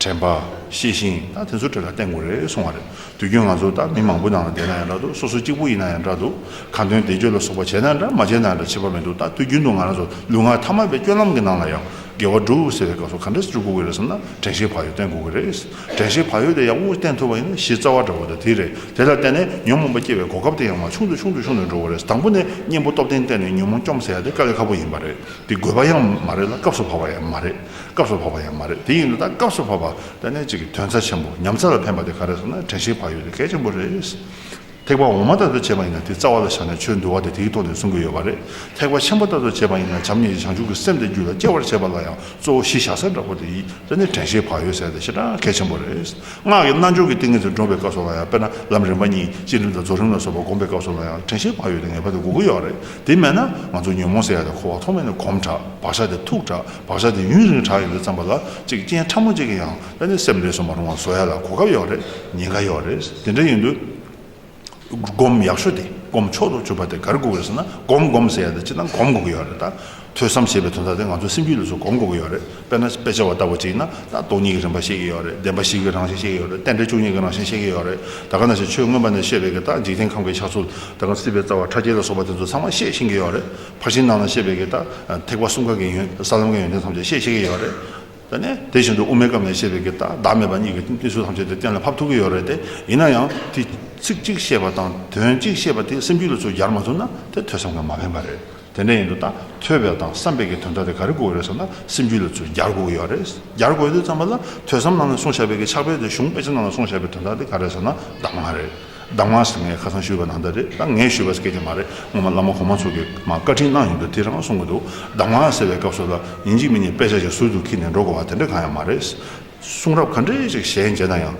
དྲན་པ། ཤེས་ཤིང་ད་དེ་ཚོ་གྲོས་ལ་བརྟེན་དགོས་རེད་གསུང་བ་རེད་དུས་རྒྱུན་ང་ཚོ་ད་མི་མང་པོ་ནང་ལ་བསྡད་ན་ཡང་འདྲ་འདུག་སོ་སོ་གཅིག་པོ་ཡིན་ན་ཡང་འདྲ་འདུག་གང་དོན་བདེ་སྤྱོད་ལ་སོགས་པ་བྱས་ན་འདྲ་མ་བྱས་ན་འདྲ་བྱེད་པ་མི་འདུག་ད་དུས་རྒྱུན་དུ་ང་རང་ཚོ་ལུས་ངག་ཐ་མལ་པའི་སྐྱོ་ལམ་གྱི་ནང་ལ་ཡང་དགེ་བ་བསྒྲུབ་ཟེར་བའི་སྐབས་སུ་ག་འདྲ་སྤྱོད་དགོས་ཀྱི་རེད་བསམ་ན་དྲན་ཤེས་བག་ཡོད་བརྟེན་དགོས་ཀྱི་རེད་དྲན་ཤེས་བག་ཡོད་དེ་ཡག་པོ་བརྟེན་ཐུབ་པ་ཡིན་ན་གཞི་རྩ་བ་འདྲ་བོ་དང་དེ་རེད་དེ་ལ་བརྟེན་ནས་ཉོན་མོངས་པ་སྐྱེ་བའི་གོ་སྐབས་དེ་ཡང་མ་ཆུང་དུ་ཆུང་དུ་ཆུང་དུ་འགྲོ་བ་རེད་དང་པོ་ནས་གཉེན་པོ་སྟོབས་ལྡན་བསྟེན་ནས་ཉོན་མོངས་སྐྱོམ་ཟེར་ཡ་དེ་དཀའ་གི་ཁག་པོ་ཡིན་པ་རེད་དེ་དགོས་པ་ཡང་མ་རེད་ལ་སྐབས་སུ་བབ་པ་ཡང་མ་རེད། སྐབས་སུ་བབ་པ་ཡང་མ་རེད་དེ་ཡིན་ན་ད་སྐབས་སུ་བབ་པ་ལྟ་ནས་ཅིག་གི་དོན་རྩ་ཆེན་པོ་ཉམས་རྩ་ལ་ཕན་པ་དེ་ག་རེ་སོང་ན་དྲན་ཤེས་བག་ཡོད་དེ་གལ་ཆེན་པོ་རེད། ཐེག་པ་འོག་མ་ལྟ་བུ་བྱས་པ་ཡིན་ན་དེ་རྩ་བ་ལ་བཞག་ནས་ཆོས་འདུལ་བ་དེ་དེའི་ཐོག་ནས་གསུང་གི་ཡོད་པ་རེད། ཐེག་པ་ཆེན་པོ་ལྟ་བུ་བྱས་པ་ཡིན་ན་བྱམས་སྙིང་རྗེ་བྱང་ཆུབ་ཀྱི་སེམས་དེ་རྒྱུད་ལ་སྐྱེ་བར་བྱེད་པ་ལ་ཡང་གཙོ་བོ་གཞི་བཞག་ས་འདྲ་པོ་དེ་ཡིན་ལྟ་ནས་དྲན་ཤེས་བག་ཡོད་ཟེར་ཏེ་ཞེ་དྲག་གལ་ཆེན་པོ་རེད། སྔགས་ཀྱི་རྣལ་འབྱོར་གྱི་ཏིང་ངེ་འཛིན་འདྲོངས་པའི་སྐབས་སུ་ལ་ཡང་དཔེར་ན་ལམ་རིམ་པ་གཉིས་སྤྱི་རིམ་དང་རྫོགས་རིམ་ལ་སོགས་པ་བསྒོམ་པའི་སྐབས་སུ་ལ་ཡང་དྲན་ཤེས་བག་ཡོད་དེ་ངེས་པར་དུ་དགོས་ཀྱི་ཡོད་རེད། དེ་མེད་ན་ང་ཚོ་ཉོན་མོངས་སེལ་ཡག་དེ་འཁོར་བ་ཐོག་མེད་ནས་གོམས་དྲགས་བག་ཆགས་དེ་ཐུག་དྲགས་བག་ཆགས་དེ་ཡུན་རིང་དྲགས་ཡོད་རེད་བསམ་པ་ལ་གཅིག་རྐྱེན་ཕྲ་མོ་གཅིག་གིས་ཡང་དཔེ་འདི་སེམས་འདྲེས་སུ་མ་རུང་བ་བཟོ་ཡ་ལ་གོ་སྐབས་ཡོག་རེད་ཉེན་ཁ་ཡོག་རེད་དེ་འདྲ་ཡིན་དུས། སྒོམ་ཡག་ཤོས་དེ་སྒོམ་མཆོག་ཏུ་གྱུར་པ་དེ་གར་སྒུག་ཡོད་ཟེར་ན་སྒོམ་སྒོམ་ཟེར་ཡ་དེ་སྤྱི་སྟངས་གོམས་དགོས་ཀྱི་ཡོག་རེད་ད། ཐོས་བསམ་ཞེས་པའི་དོན་དག་དེ་ང་ཚོ་སེམས་རྒྱུད་ལས་སུ་གོམས་དགོས་ཀྱི་ཡོག་རེད། དཔེར་ན་དཔེ་ཆ་བ་ལྟ་བུ་ཅིག་ན་ད་སྟོང་ཉིད་ཀྱི་རིམ་པ་ཤེས་ཀྱི་ཡོད་རེད་བདེན་པ་ཞིག་གི་རང་བཞིན་ཤེས་ཀྱི་ཡོད་རེད་རྟེན་འབྲེལ་བཅུ་གཉིས་ཀྱི་རང་བཞིན་ཤེས་ཀྱི་ཡོད་རེད་ད་ག་ན་ཞིག་ཆོས་མངོན་པ་ནས་ཤེས་པའི་གི་ད་འཇིག་རྟེན་ཁམས་ཀྱི་ཆགས་ཚུལ་ད་གམ་སྲིད་པའི་རྩ་བ་ཕྲ་རྒྱས་ལ་སོགས་པ་དེ་ཚོ་ཚང་མ་ཤེས་ཤིང་གི་ཡོད་རེད་ཕར་ཕྱིན་ནང་ན་ཤེས་པའི་གི་ད་ཐེག་པ་གསུམ་ཀ་གི་ཡོན་ས་ལམ་གྱི་ཡོན་ཏན་ཐམས་ཅད་ཤེས་ཤེས་ཀྱི་ཡོད་རེད་དེ། དེ་བཞིན་དུ་དབུ་མའི་སྐབས་ནས་ཤེས་པའི་གི་ད་བདག་མེད་པ་གཉིས་ཀྱི་གནས་ཚུལ་ཐམས་ཅད་དེ་གཏན་ལ་ཕབ་ཐུབ་ཀྱི་ཡོད་རེད་དེ་ཡིན་ན་ཡང་དེ་ཚིག་གཅིག་ཤེས་པ་དང་དོན་གཅིག་ཤེས་པ་དེ་སེམས་རྒྱུད་ལ་ཚུར་སྦྱར་མ་ཐུབ་ན་དེ་ཐོས་བསམ་གྱི་མ་ཕན་པ་རེད། དེ་འདྲ་ཡིན་འདུག་ད་ཐོས་པའི་དང་བསམ་པའི་གི་དོན་དག་དེ་ག་རེ་གོ་གི་རེད་བསམ་ན་སེམས་རྒྱུད་ལ་ཚུར་སྦྱར་དགོས་གི་ཡོད་རེད་སྦྱར་དགོས་དེ་བསམ་པ་ལ་ཐོས་བསམ་ནང་ནས་སོང་བྱས་པའི་གི་ཕྱག་དཔེ་དེ་གཞུང་དཔེ་ཆ་ནང་ལ་སོང་བྱས་པའི་དོན་དག་དེ་ག་རེ་ཟེར་ན་གདམས་ངག་རེད་གདམས་ངག་ཟེར་ངས་ཁ་སང་ཞུས་པ་ནང་ད་རེད་ད་ངས་ཞུས་པ་སྐད་ཅིག་མ་རེད་སྔོན་མ་བླ་མ་གོང་མ་ཚོ་གི་མ་བཀའ་དྲིན་གནང་ཡོང་དུས་དེ་རང་གསུང་གི་འདུག་གདམས་ངག་ཟེར་བའི་སྐབས་སུ་ལ་ཡིན་གཅིག་མིན་གཉིས་དཔེ་ཆ་ཞིག་ཟུར་དུ་འཁྱིལ་ནས་འགྲོ་དགོས་བ་དེ་འདྲ་གང་ཡང་མ་རེད་གསུང་རབ་ག་འདྲའི་ཅིག་ཞལ་མཇལ་ན་ཡང།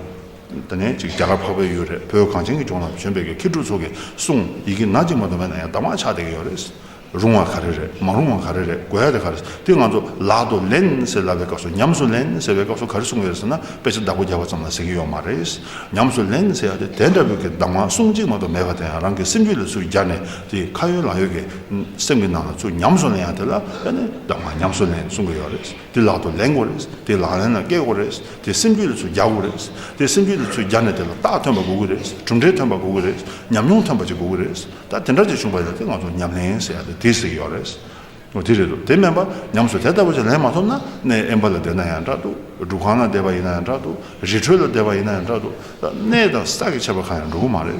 ད་ནི་ཅིག་རྒྱ་གར་འཕགས་པའི་ཡུལ་རེད་བོད་གངས་ཅན་གྱི་ལྗོངས་ལ་བྱོན་པའི་གི་མཁས་གྲུབ་ཚོ་གི་གསུང་ཡི་གི་ནག་ཅིག་མ་འདོན་པ་ན་ཡང་དག་མ་ཆགས་བསྡད་གི་ཡོད་རེད། རུང་བ་ག་རེ་རེད་མ་རུང་བ་ག་རེ་རེད་གོ་ཡ་རེད་ག་རེད་དེ་ང་ཚོ་ལག་ཏུ་ལེན་ཟེར་ལབ་པའི་སྐབས་སུ་ཉམས་སུ་ལེན་ཟེར་བའི་སྐབས་སུ་ག་རེ་གསུང་གི་རེད་ཟེར་ན་དཔེ་ཆ་བདག་པོ་རྒྱག་པ་ཙམ་ལ་ཟེར་གི་ཡོད་མ་རེད། ཉམས་སུ་ལེན་ཟེར་ཡ་དེ་དེ་འདྲ་བོའི་གི་གདམས་ངག་གསུང་ཅིག་མ་གཏོགས་མེད་པ་དེ་ཡང་རང་གི་སེམས་རྒྱུད་ལ་ཚུར་རྒྱག་ནས་དེ་ཁ་ཡོད་ལག་ཡོད་གི་སེམས་གི་ནང་ལ་ཚུར་ཉམས་སུ་ལེན་ཡ་དེ་ལ་ཡ་ནི་གདམས་ངག་ཉམས་སུ་ལེན་གསུང་གི་ཡོད་རེད། དེ་ལག་ཏུ་ལེན་དགོས་རེད། དེ་ལག་ལེན་ནང་བཀལ་དགོས་རེད། དེ་སེམས་རྒྱུད་ལ་ཚུར་རྒྱག་དགོས་རེད། དེ་སེམས་རྒྱུད་ལ་ཚུར་རྒྱག་ནས་དེ་ལ་རྟགས་ཐོན་པ་དགོས་ཀྱི་རེད། གྲུབ་འབྲས་ཐོན་པ་དགོས་ཀྱི་རེད། ཉམས་མྱོང་ཐོན་པ་ཅིག་དགོས་ཀྱི་རེད། ད་དེ་འདྲ་ཅིག་བྱུང་བ་ཡིན་ན་དེ་ང་ཚོ་ཉམས་ལེན་ཟེར་ཡག་དེ་དེ་ཟེར་གྱི་ཡོད་རེད། འོ་དེ་རེད་དོ། དེ་མིན་པར་ཉམས་སུ་དེ་ལྟ་བུ་ཅིག་ལེན་མ་ཐུབ་ན་གནས་དབེན་པ་ལ་བསྡད་ན་ཡང་འདྲ་འདུག་སྒྲུབ་ཁང་ན་བསྡད་པ་ཡིན་ན་ཡང་འདྲ་འདུག་རི་ཁྲོད་ལ་བསྡད་པ་ཡིན་ན་ཡང་འདྲ་འདུག་ད་གནས་དང་ས་ཀྱི་ཆད་པ་གང་ཡང་འགྲོ་གི་མ་རེད།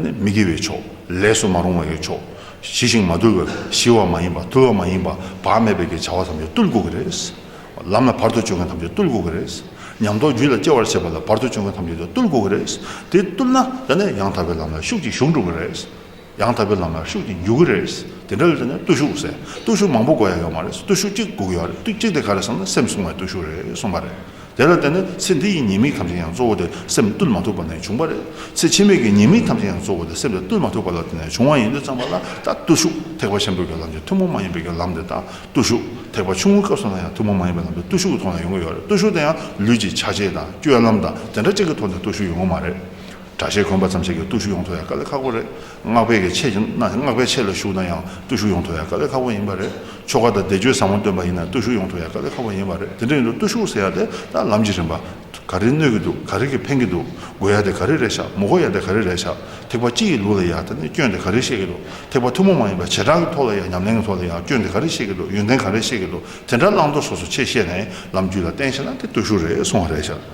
མི་དགེ་བའི་ཕྱོགས་ལས་སུ་མ་རུང་བ་ཡོད་ཆོག་ཞི་ཞིང་མ་དུལ་བས་ཞི་བ་མ་ཡིན་པ་དུལ་བ་མ་ཡིན་པ་བག་མེད་པས་ཀྱི་བྱ་བ་ཐམས་ཅད་བརྟུལ་དགོས་ཀྱི་རེད། ལམ་ལ་བར་དོ་གཅོད་མཁན་ཐམས་ཅད་བརྟུལ་དགོས་ཀྱི་རེད། ཉམས་རྟོགས་རྒྱུད་ལ་སྐྱེ་བར་བྱེད་པ་ལ་བར་དོ་གཅོད་མཁན་ཐམས་ཅད་དེ་བརྟུལ་དགོས་ཀྱི་རེད། དེ་བརྟུལ་ན་དེ་ནས་ཡང་དག་པའི་ལམ་ལ་ཤུགས་ཀྱིས་ཞུགས་འགྲོ་གི་རེད། ཡང་དག་པའི་ལམ་ལ་ཤུགས་ཀྱིས་འཇུག་གི་རེད། དེ་འདྲ་བས་དེ་ནས་བརྟུལ་ཞུགས་ཟེར། བརྟུལ་ཞུགས་མང་པོ་དགོས་ཡ་ཡོད་མ་རེད་བརྟུལ་ཞུགས་གཅིག་དགོས་ཀྱི་ཡོད་རེད་བརྟུལ་གཅིག་དེ་ག་རེད་བསམ་ན་སེམས་བསྲུང་བའི་བརྟུལ་ཞུགས་རེད་གསུངས་པ་རེད། དེ་ལ་བརྟེན་ནས་ཚེ་འདི་ཡི་ཉེས་དམིགས་ཐམས་ཅད་ཡང་གཙོ་བོ་དེ་སེམས་བཏུལ་མ་ཐུབ་པ་ནས་བྱུང་བ་རེད། ཚེ་ཕྱི་མའི་གི་ཉེས་དམིགས་ཐམས་ཅད་ཡང་གཙོ་བོ་དེ་སེམས་དེ་བཏུལ་མ་ཐུབ་པ་ལ་བརྟེན་ནས་བྱུང་བ་ཡིན་དུས་ཙམ་པ་ལ་ད་བརྟུལ་ཞུགས་ཐེག་པ་ཆེན་པོའི་གི་ལམ་གྱི་ཐུན་མོང་མ་ཡིན་པའི་གི་ལམ་དེ་དང་བརྟུལ་ཞུགས་ཐེག་པ་ཆུང་ངུའི་སྐབས་སུ་ན་ཡང་ཐུན་མོང་མ་ཡིན་པའི་ལམ་དེ་བརྟུལ་ཞུགས་ཀྱི་ཐོག་ནས་ཡོང་གི་ཡོད་རེད་བརྟུལ་ཞུགས་དེ་ཡང་ལུས་ཀྱི་བྱ་བྱེད་དང་སྤྱོད་ལམ་དང་དེ་འདྲ་ཅན་གྱི་ཐོག་ནས་བརྟུལ་ཞུགས་ཡོང་གི་མ་རེད། དྲ་ཞེས་གོན་པ་ཙམ་བྱས་ཀྱི་བརྟུལ་ཞུགས་ཡོང་ཐུབ་ཡ་དཀའ་ལས་ཁག་པོ་རེད། སྔགས་པས་ཀྱི་ཆེད་ཡིན་ན་སྔགས་པའི་ཆེད་ལ་ཞུགས་ན་ཡང་བརྟུལ་ཞུགས་ཡོང་ཐུབ་ཡ་དཀའ་ལས་ཁག་པོ་ཡིན་པ་རེད། ཆོ་ག་དང་བཟླས་བརྗོད་བཟང་བོ་སྟོན་པ་ཡིན་ན་བརྟུལ་ཞུགས་ཡོང་ཐུབ་ཡ་དཀའ་ལས་ཁག་པོ་ཡིན་པ་རེད་དེ་འདྲ་ཡིན་དུས་བརྟུལ་ཞུགས་ཟེར་ཡ་དེ་ད་ལམ་གྱི་རིན་པ། ག་རེ་གནོད་ཀྱི་འདུག་ག་རེ་གྱིས་ཕན་གྱི་འདུག་དགོས་ཡ་དེ་ག་རེ་རེད་ཤག་མོ་དགོས་ཡ་དེ་ག་རེ་རེད་ཤག་ཐེག་པ་སྤྱི་ཡི་ལུགས་ལ་ཡ་དེ་ནས་སྐྱོན་དེ་ག་རེ་བཤད་ཀྱི་འདུག་ཐེག་པ་ཐུན་མོང་མ་ཡིན་པ་བྱེ་བྲག་གི་ཐོག་ལ་ཡ་ཉམས་ལེན་གྱི་ཐོག་ལ་ཡ་སྐྱོན་དེ་ག་རེ་བཤད་ཀྱི་འདུག་ཡོན་ཏན་ག་རེ་བཤད་ཀྱི་འདུག་དེ་འདྲ་བླང་དོར་སོ་སོ་ཆེད་བཤད་ནས་ལམ་རྒྱུད་ལ་བརྟེན་ཤེས་ན་དེ་བརྟུལ་ཞུགས་རེད་གསུང་བ་རེད་ཤག།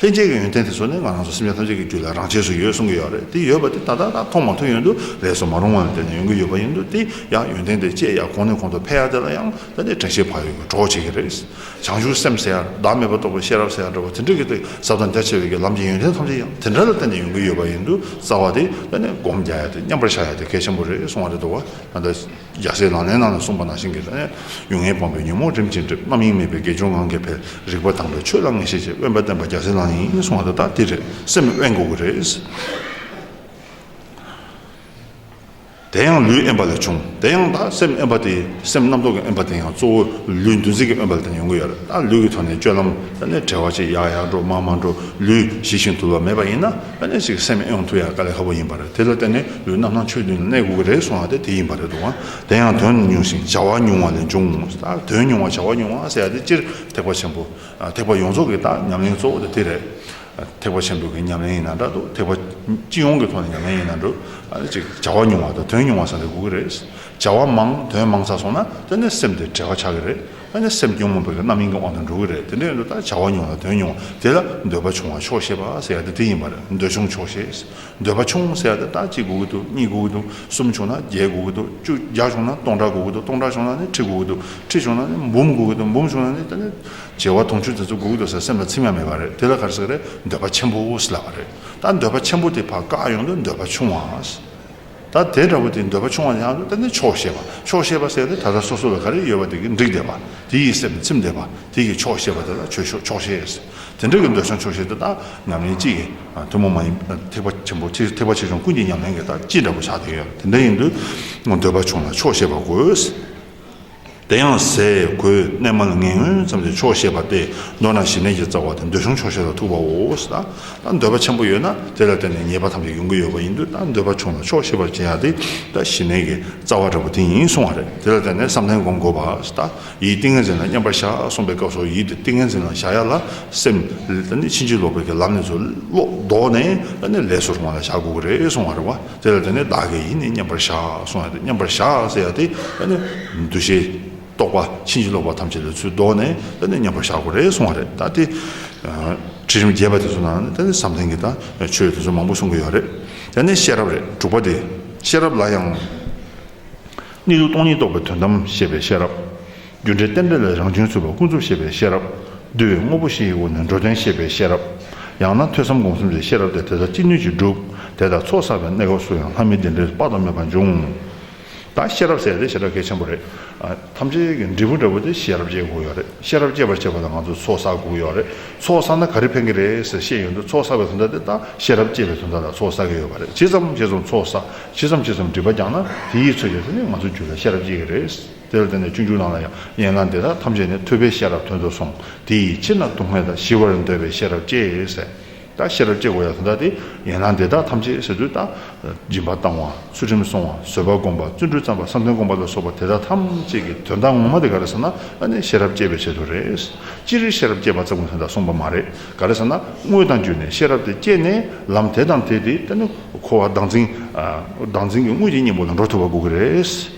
ལྷན་སྐྱེས་ཀྱི་ཡོན་ཏན་དེ་ཚོ་ནི་ང་རང་ཚོ་སེམས་ཅན་ཐམས་ཅད་ཀྱི་རྒྱུད་ལ་རང་ཆས་སུ་ཡོད་གསུང་གི་ཡོད་རེད་དེ་ཡོད་པ་དེ་ད་ལྟ་ད་མཐོང་མ་ཐོས་ཡོད་འདུག་རེད་སོ་མ་རུང་བ་ནི་དེ་ནི་ཡོང་གི་ཡོད་པ་ཡིན་འདུག་དེ་ཡང་ཡོན་ཏན་དེ་སྐྱེས་ཡག་གོང་ནས་གོང་དུ་འཕེལ་ཡག་དེ་ལ་ཡང་ད་ནི་དྲན་ཤེས་བག་ཡོད་ཀྱི་གྲོགས་བྱེད་ཀྱི་རེད། བྱང་ཆུབ་སེམས་ཟེར་ཡང་བདག་མེད་པ་རྟོགས་པའི་ཤེས་རབ་ཟེར་ཡང་འདྲ་བོ་དེ་འདྲ་གི་དེ་ཟབ་དང་རྒྱ་ཆེ་བའི་གི་ལམ་གྱི་ཡོན་ཏན་ཐམས་ཅད་ཡང་དེ་འདྲ་ལ་བརྟེན་ནས་ཡོང་གི་ཡོད་པ་ཡིན་འདུག་རྩ་བ་དེ་ད་ནི་སྒོམ་རྒྱག་ཡག་དེ་མཉམ་པར་བཞག་ཡག་དེ་གལ་ཆེན་པོ་རེད་གསུང་བ་རེད་འདུག་བ་ད། རྒྱལ་སྲས་ལག་ལེན་རྣམས་ལ་གསུངས་པ་ནང་བཞིན་གྱིས་ལ། ཡུལ་ངན་སྤངས་པའི་ཉོན་མོངས་རིམ་གྱིས་འགྲིབ་རྣམ་གཡེང་མེད་པའི་དགེ་སྦྱོང་ངང་གིས་འཕེལ། རིག་པ་དྭངས་པའི་ཆོས་ལ་ངེས་ཤེས་ཀྱིས་དབེན་པར་བསྟན་པ་རྒྱལ་སྲས་ལག་ལེན་ཡིན་གསུང་བ་དེ་དག་དེ་རེད་སེམས་དབེན་དགོས་ཀྱི་རེད། དེ་ཡང་ལུས་དབེན་པ་ལས་བྱུང་དེ་ཡང་དག་སེམས་དབེན་པ་དེ་སེམས་རྣམ་རྟོག་གི་དབེན་པ་དེ་ཡང་གཙོ་བོ་ལུས་འདུ་འཛི་གི་དབེན་པ་ལ་བརྟེན་ཡོང་གི་ཡོད་ལ་ལུས་ཀྱི་ཐོག་ནས་སྤྱོད་ལམ་ལ་ནི་བྲལ་བ་ཅིག་ཡག་ཡག་འགྲོ་མང་མང་འགྲོ་ལུས་ཞི་ཞིང་དུལ་བ་མེད་པ་ཡིན་ན། ཨ་ནེ་ཟིག་སེམས་ཨེ་འོང་ཐུག་ཡག་ག་ལེ་ཁ་བོ་ཡིན་པ་རེད་དེ་ལ་བརྟེན་ནས་ལུས་རྣམ་སྣང་ཆོས་བདུན་ལ་གནས་དགོས་ཀྱི་རེད་གསུངས་ཡག་དེ་དེ་ཡིན་པ་རེད་འདུག་དེ་ཡང་དོན་ཉུང་ཞིང་བྱ་བ་ཉུང་བ་ལས་འབྱུང་ངོ་སྟག་དོན་ཉུང་བ་བྱ་བ་ཉུང་བ་ཟེར་ཡག་དེ་སྤྱིར་ཐེག་པ་ཆེན་པོ་ཐེག་པ་ཡོངས་རྫོགས་ཀྱི་དག་ཉམས་ལེན་གཙོ་བོ་དེ་དེ་རེད་ཐེག་པ་ཆེན་པོ་གི་ཉམས་ལེན་ཡིན་ན་འདྲ་འདུག་ཐེག་པ་སྤྱི་ཡོངས་ཀྱི་ཐོག་ནས་ཉམས་ལེན་ཡིན་ན་འགྲོ་ཨ་ནེ་ཟིག་བྱ་བ་ཉུང་བ་དང་དོན་ཉུང་བ་ཟེར་ལེ་དགོས་ཀྱི་རེད་བྱ་བ་མང་དོན་མང་ཚར་སོང་ན་དེ་ནས་སེམས་དེ་བྲེལ་བ་ཆགས་ཀྱི་རེད་ཨ་ནི་སེམས་སྐྱོ་མོ་བོད་པའི་རྣམ་གཡེང་གི་དབང་དུ་འགྲོ་གི་རེད་དེ་འདྲའི་འདོད་ཐག་བྱ་བ་ཉུང་ལ་དོན་ཉུང་དེ་ལ་འདོད་པ་ཆུང་བ་ཆོག་ཤེས་པ་ཟེར་ཡ་དེ་དེ་ཡིན་པ་རེད་འདོད་ཆུང་ཆོག་ཤེས་འདོད་པ་ཆུང་ཟེར་ཡ་དེ་ད་གཅིག་དགོས་ཀྱི་འདུག་གཉིས་དགོས་ཀྱི་འདུག་གསུམ་བྱུང་ན་བརྒྱད་དགོས་ཀྱི་འདུག་བཅུ་བརྒྱ་བྱུང་ན་སྟོང་ཕྲག་དགོས་ཀྱི་འདུག་སྟོང་ཕྲག་བྱུང་ན་ནི་ཁྲི་དགོས་ཀྱི་འདུག་ཁྲི་བྱུང་ན་ནི་འབུམ་དགོས་ཀྱི་འདུག་འབུམ་བྱུང་ན་ནི་ད་ནི་བྱེ་བ་དུང་ཕྱུར་དེ་ཚོ་དགོས་ཀྱི་འདུག་ཟེར་སེམས་ལ་ཚིམ་ཡ་མེད་པ་རེད་དེ་ལ་ག་རེ་ཟེར་གི་རེད་འདོད་པ་ཆེན་པོ་ཟེར་ལབ་པ་རེད་ད་འདོད་པ་ཆེན་པོ་དེ་བག་དཀའ་ཡོང་དུས་འདོད་པ་ཆུང་བ་ད་དེ་འདྲ་བོ་དེ་འདོད་པ་ཆུང་བ་ཡང་ལྟ་ནི་ཆོག་ཤེས་པ་ཆོག་ཤེས་པ་ཟེར་ཏེ་ད་ལྟ་སོ་སོ་ལ་ག་རེ་ཡོད་པ་དེ་གི་འགྲིག་བསྡད་པ་དེ་ཡི་སེམས་ཚིམ་བསྡད་པ་དེ་གི་ཆོག་ཤེས་པ་དེ་ལ་ཆོས་ཤོག་ཆོག་ཤེས། དེ་འདྲ་གི་འདོད་ཆུང་ཆོག་ཤེས་དེ་དག་ཉམས་ལེན་གཅིག་གི་ཐུན་མོང་མ་ཡིན་པ་ཐེག་པ་ཆེན་པོ་ཐེག་པ་ཆེ་ཆུང་ཀུན་གྱི་ཉམས་ལེན་གྱི་ལྟ་ཅི་འདྲ་བོ་ཆགས་བསྡད་ཡོད་དེ་འདྲ་ཡིན་དུས་འདོད་པ་ཆུང་ལ་ཆོག་ཤེས་པ་དགོས། དེ་ཡང་ཟས་གོས་གནས་མལ་ངན་ངོན་ཙམ་གྱི་ཆོག་ཤེས་པ་སྟེ་མདོར་ན་ཞི་གནས་ཀྱི་རྩ་བ་དེ་འདོད་གཞུང་ཆོག་ཤེས་ལ་ཐུག་པའོ། ད་འདོད་པ་ཆེན་པོ་ཡོད་ན་དེ་ལ་བརྟེན་ནས་ཉེས་པ་ཐམས་ཅད་ཡོང་གི་ཡོད་པ་ཡིན་དུས་ད་འདོད་པ་ཆུང་ལ་ཆོག་ཤེས་པར་བྱེད་ཡ་དེ་ད་ཞི་གནས་ཀྱི་རྩ་བ་འདྲ་པོ་དེ་ཡིན་གསུང་བ་རེད་དེ་ལ་བརྟེན་ནས་བསམ་གཏན་སྒོམ་དགོས་པ་ད་ཡིད་ཏིང་ངེ་འཛིན་ལ་མཉམ་པར་བཞག་གསུངས་པའི་སྐབས་སུ་ཡིད་དེ་ཏིང་ངེ་འཛིན་ལ་བཞག་ཡ་ལ་སེམས་ད་ནི་ཕྱིན་ཅི་ལོག་པའི་གི་ལམ་ནས་ཚུར་ལོག་ལྡོག་ནས་ད་ནི་ལས་སུ་རུང་བ་ལ་བཞག་དགོས་ཀྱི་རེད་གསུང་བ་རེད་བ། དེ་ལ་དེ་ནི་བདག་གི་ཡིན་ནི་མཉམ་པར་བཞག་གསུང་ཡང་དེ་མཉམ་པར་བཞག་ཟེར་ཡང་དེ་ད་ནི་འདུ་ཤེས་རྟོག་པ་ཕྱིན་ཅི་ལོག་པ་ཐམས་ཅད་ལས་ཚུལ་བཟློག་ནས་ད་ནི་མཉམ་པར་བཞག་གོ་རེ་གསུང་བ་རེད་ད་དེ་ཁྲིད་རིམ་རྒྱས་པ་དེ་ཚོ་ནང་ན་ད་ནི་བསམ་གཏན་གྱི་ད་ཆོས་དེ་ཚོ་མང་པོ་གསུང་གི་ཡོད་རེད་དེ་ནི་ཤེས་རབ་རེད་དྲུག་པ་དེ་ཤེས་རབ་ལ་ཡང། གནས་ལུགས་སྟོང་ཉིད་རྟོགས་པའི་དོན་དམ་ཤེས་པའི་ཤེས་རབ། རྒྱུ་འབྲས་རྟེན་འབྲེལ་ལས་རང་བྱུང་ཚོལ་བ་ཀུན་རྫོབ་ཤེས་པའི་ཤེས་རབ། བསྡུ་བའི་དངོས་པོ་བཞི་ཡི་འོག་ནས་འགྲོ་དོན་ཤེས་པའི་ཤེས་རབ། ཡང་ན་ཐོས་བསམ་སྒོམ་གསུམ་གྱི་ཤེས་རབ་སྟེ་དེ་དག་ཅི་ནུས་ཀྱིས་བསྒྲུབ། དེ་ལྟར་ཚོགས་བསགས་པའི་གནས་སྐབས་སུ་ཡང་ལྷ་མིའི་བདེ་འབྲས་དཔག་ཏུ་མེད་པ་འབྱུང། ད་ཤེས་རབ་ཟེར་ཏེ་བྱེ་བྲག་གལ་ཆེན་པོ་རེད། ཐམས་ཅད་ཀྱི་འབྲས་བུ་འདྲ་བོ་དེ་ཤེས་རབ་སྐྱེ་དགོས་ཡོད་རེད། ཤེས་རབ་སྐྱེ་བར་བྱེད་པ་ལ་ང་ཚོས་ཚོགས་བསགས་དགོས་ཡོད་རེད། ཚོགས་བསགས་ན་ག་རེ་ཕན་གྱི་རེད་ཟེར་ཤེས་ཡོད་འདུག་ཚོགས་བསགས་པའི་དོན་དག་དེ་དག་ཤེས་རབ་སྐྱེ་བའི་དོན་དག་ལ་ཚོགས་བསགས་ཀྱི་ཡོད་པ་རེད། ཇི་ཙམ་ཇི་ཙམ་ཚོགས་བསགས་ཇི་ཙམ་ཇི་ཙམ་འབྲི་བ་རྒྱག་ན་དེ་ཡིས་ཚོད་བྱས་ཚེ་ནི་ང་ཚོའི་རྒྱུད་ལ་ཤེས་རབ་སྐྱེ་གི་རེད། དེ་ལ་བརྟེན་ནས་སྤྱོད་འཇུག་རྣམས་ལ་ཡང་ཡན་ལག་འདི་དག་ཐམས་ཅད་ནི་ཐོས་པའི་ཤེས་རབ་དོན་དུ་སོང་དེ་ཡི་ཕྱིར་ན་སྡུག་བསྔལ་དང་ཞི་བར་འདོད་པའི་ཤེས་རབ་ཅེས་ཟེར། ད་ཤེས་རབ་ཅེས་བསྒོ་ཡང་དོན་དག་དེ་ཡན་ལག་འདི་དག་ཐམས་ཅད་ཟེར་དུས་ད་སྦྱིན་པ་བཏང་བ་ཚུལ་ཁྲིམས་བསྲུང་བ་བཟོད་པ་བསྒོམ་པ་བརྩོན་འགྲུས་བརྩམས་པ་བསམ་དོན་སྒོམ་པ་ལ་སོགས་པ་དེ་དག་ཐམས་ཅད་ཀྱི་དོན་དག་ངོ་མ་དེ་ག་རེ་ཟེར་ན་ཨ་ནི་ཤེས་རབ་བསྐྱེད་པའི་ཆེད་དུ་རེད། ཅི་རིགས་ཤེས་རབ་བསྐྱེད་པ་ཙམ་གྱི་དོན་དག་གསུངས་པ་མ་རེད་ག་རེ་ཟེར་ན་དངོས་དང་བརྒྱུད་ནས་ཤེས་རབ་དེ་བསྐྱེད་ནས་ལམ་དེ་དང་དེ་དེ་ད་ནི་འཁོར་བ་བདག་འཛིན་གྱི་དངོས་ཀྱི་གཉེན་པོ་ལ་འགྲོ་ཐུབ་པ་དགོས་ཀྱི་རེད།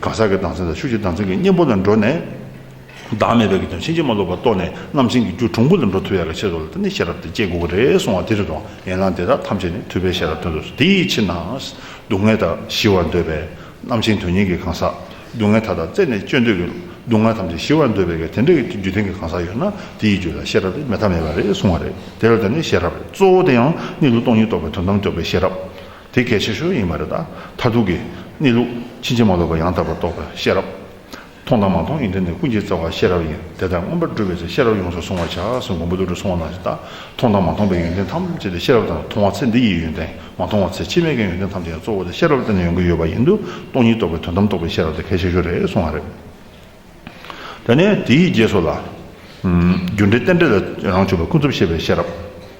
གང་ཟག་གི་ལྡང་ཚད་དང་ཤུགས་ཀྱི་ལྡང་ཚད་ཀྱི་གཉེན་པོ་ལ་འགྲོ་ནས། བདག་མེད་པའི་རྒྱུ་དང་ཕྱིན་ཅི་མ་ལོག་པར་རྟོགས་ནས་རྣམ་མཁྱེན་གྱི་རྒྱུ་གྲུང་པོ་ལ་འགྲོ་ཐུབ་ཡག་གི་ཆེད་དུ་ལ་དེ་ནི་ཤེས་རབ་དེ་སྐྱེ་དགོས་པ་རེད་གསུང་བ་དེ་རེད་དོ། ཡན་ལག་འདི་དག་ཐམས་ཅད་ནི་ཐུབ་པའི་ཤེས་རབ་སྟོན་དུ་དེའི་ཕྱིར་ན། སྡུག་བསྔལ་དག་ཞི་བར་འདོད་པས། རྣམ་མཁྱེན་དོན་གཉེར་གྱི་གང་ཟག། སྡུག་བསྔལ་མཐའ་དག་རྩད་ནས་གཅོད་འདོད་ཀྱི། སྡུག་བསྔལ་ཐམས་ཅད་ཞི་བར་འདོད་པས་ཀྱི་དེ་འདྲ་ཡི་རྒྱུ་ལྡན་གྱི་གང་ཟག་ཡོད་ན་དེའི་རྒྱུ་ལ་ཤེས་རབ་དེ་མེད་ཐབས་མེད་པ་རེད་གསུང་བ་རེད་དེ་ལ་དེ་ནི་ཤེས་རབ་རེད་གཙོ་བོ་དེ་ཡང་གཉིད་ལུགས་སྟོང་ཉིད་རྟོགས་པའི་དོན་དམ་རྟོགས་པའི་ཤེས་རབ། དེ་གལ་ཆེ་ཤོས་ཡིན་པ་རེད་ད། མཐར་ཐུག་གི་གནས་ལུགས་ཕྱིན་ཅི་མ་ལོག་པ་ཡང་དག་པར་རྟོགས་པའི་ཤེས་རབ། མཐོང་དང་མ་མཐོང་ཡིན་དོན་ནི་ཀུན་གྱིས་རྩ་བ་ཤེས་རབ་ཡིན་དེ་ལྟར་མངོན་པར་སྒྲུབ་པའི་ཚེ་ཤེས་རབ་ཡོངས་སུ་བཟུང་བར་བྱ་ཞེས་མགོན་པོ་ཏུ་ཏྲོ་གསུང་བ་ནང་བཞིན་ལྟར་མཐོང་དང་མ་མཐོང་པའི་ཡོན་ཏན་ཐམས་ཅད་དེ་ཤེས་རབ་དང་མཐོང་བ་ཚེ་འདི་ཡི་ཡོན་ཏན་མ་མཐོང་བ་ཚེ་ཕྱི་མའི་གའི་ཡོན་ཏན་ཐམས་ཅད་ཀྱང་གཙོ་བོ་དེ་ཤེས་རབ་ལྟར་ན་ཡོང་གི་ཡོད་པ་ཡིན་དུ་སྟོང་ཉིད་རྟོགས་པའི་དོན་དམ་རྟོགས་པའི་ཤེས་རབ་དེ་གལ་ཆེ་ཤོས་རེད་གསུང་བ་རེད། དེ་ནས་དེའི་རྗེས་སུ་ལ། རྒྱུ་འབྲས་རྟེན་འབྲེལ་ལས་རང་བྱུང་བའི་ཀུན་རྫོབ་ཤེས་པའི་ཤེས་རབ།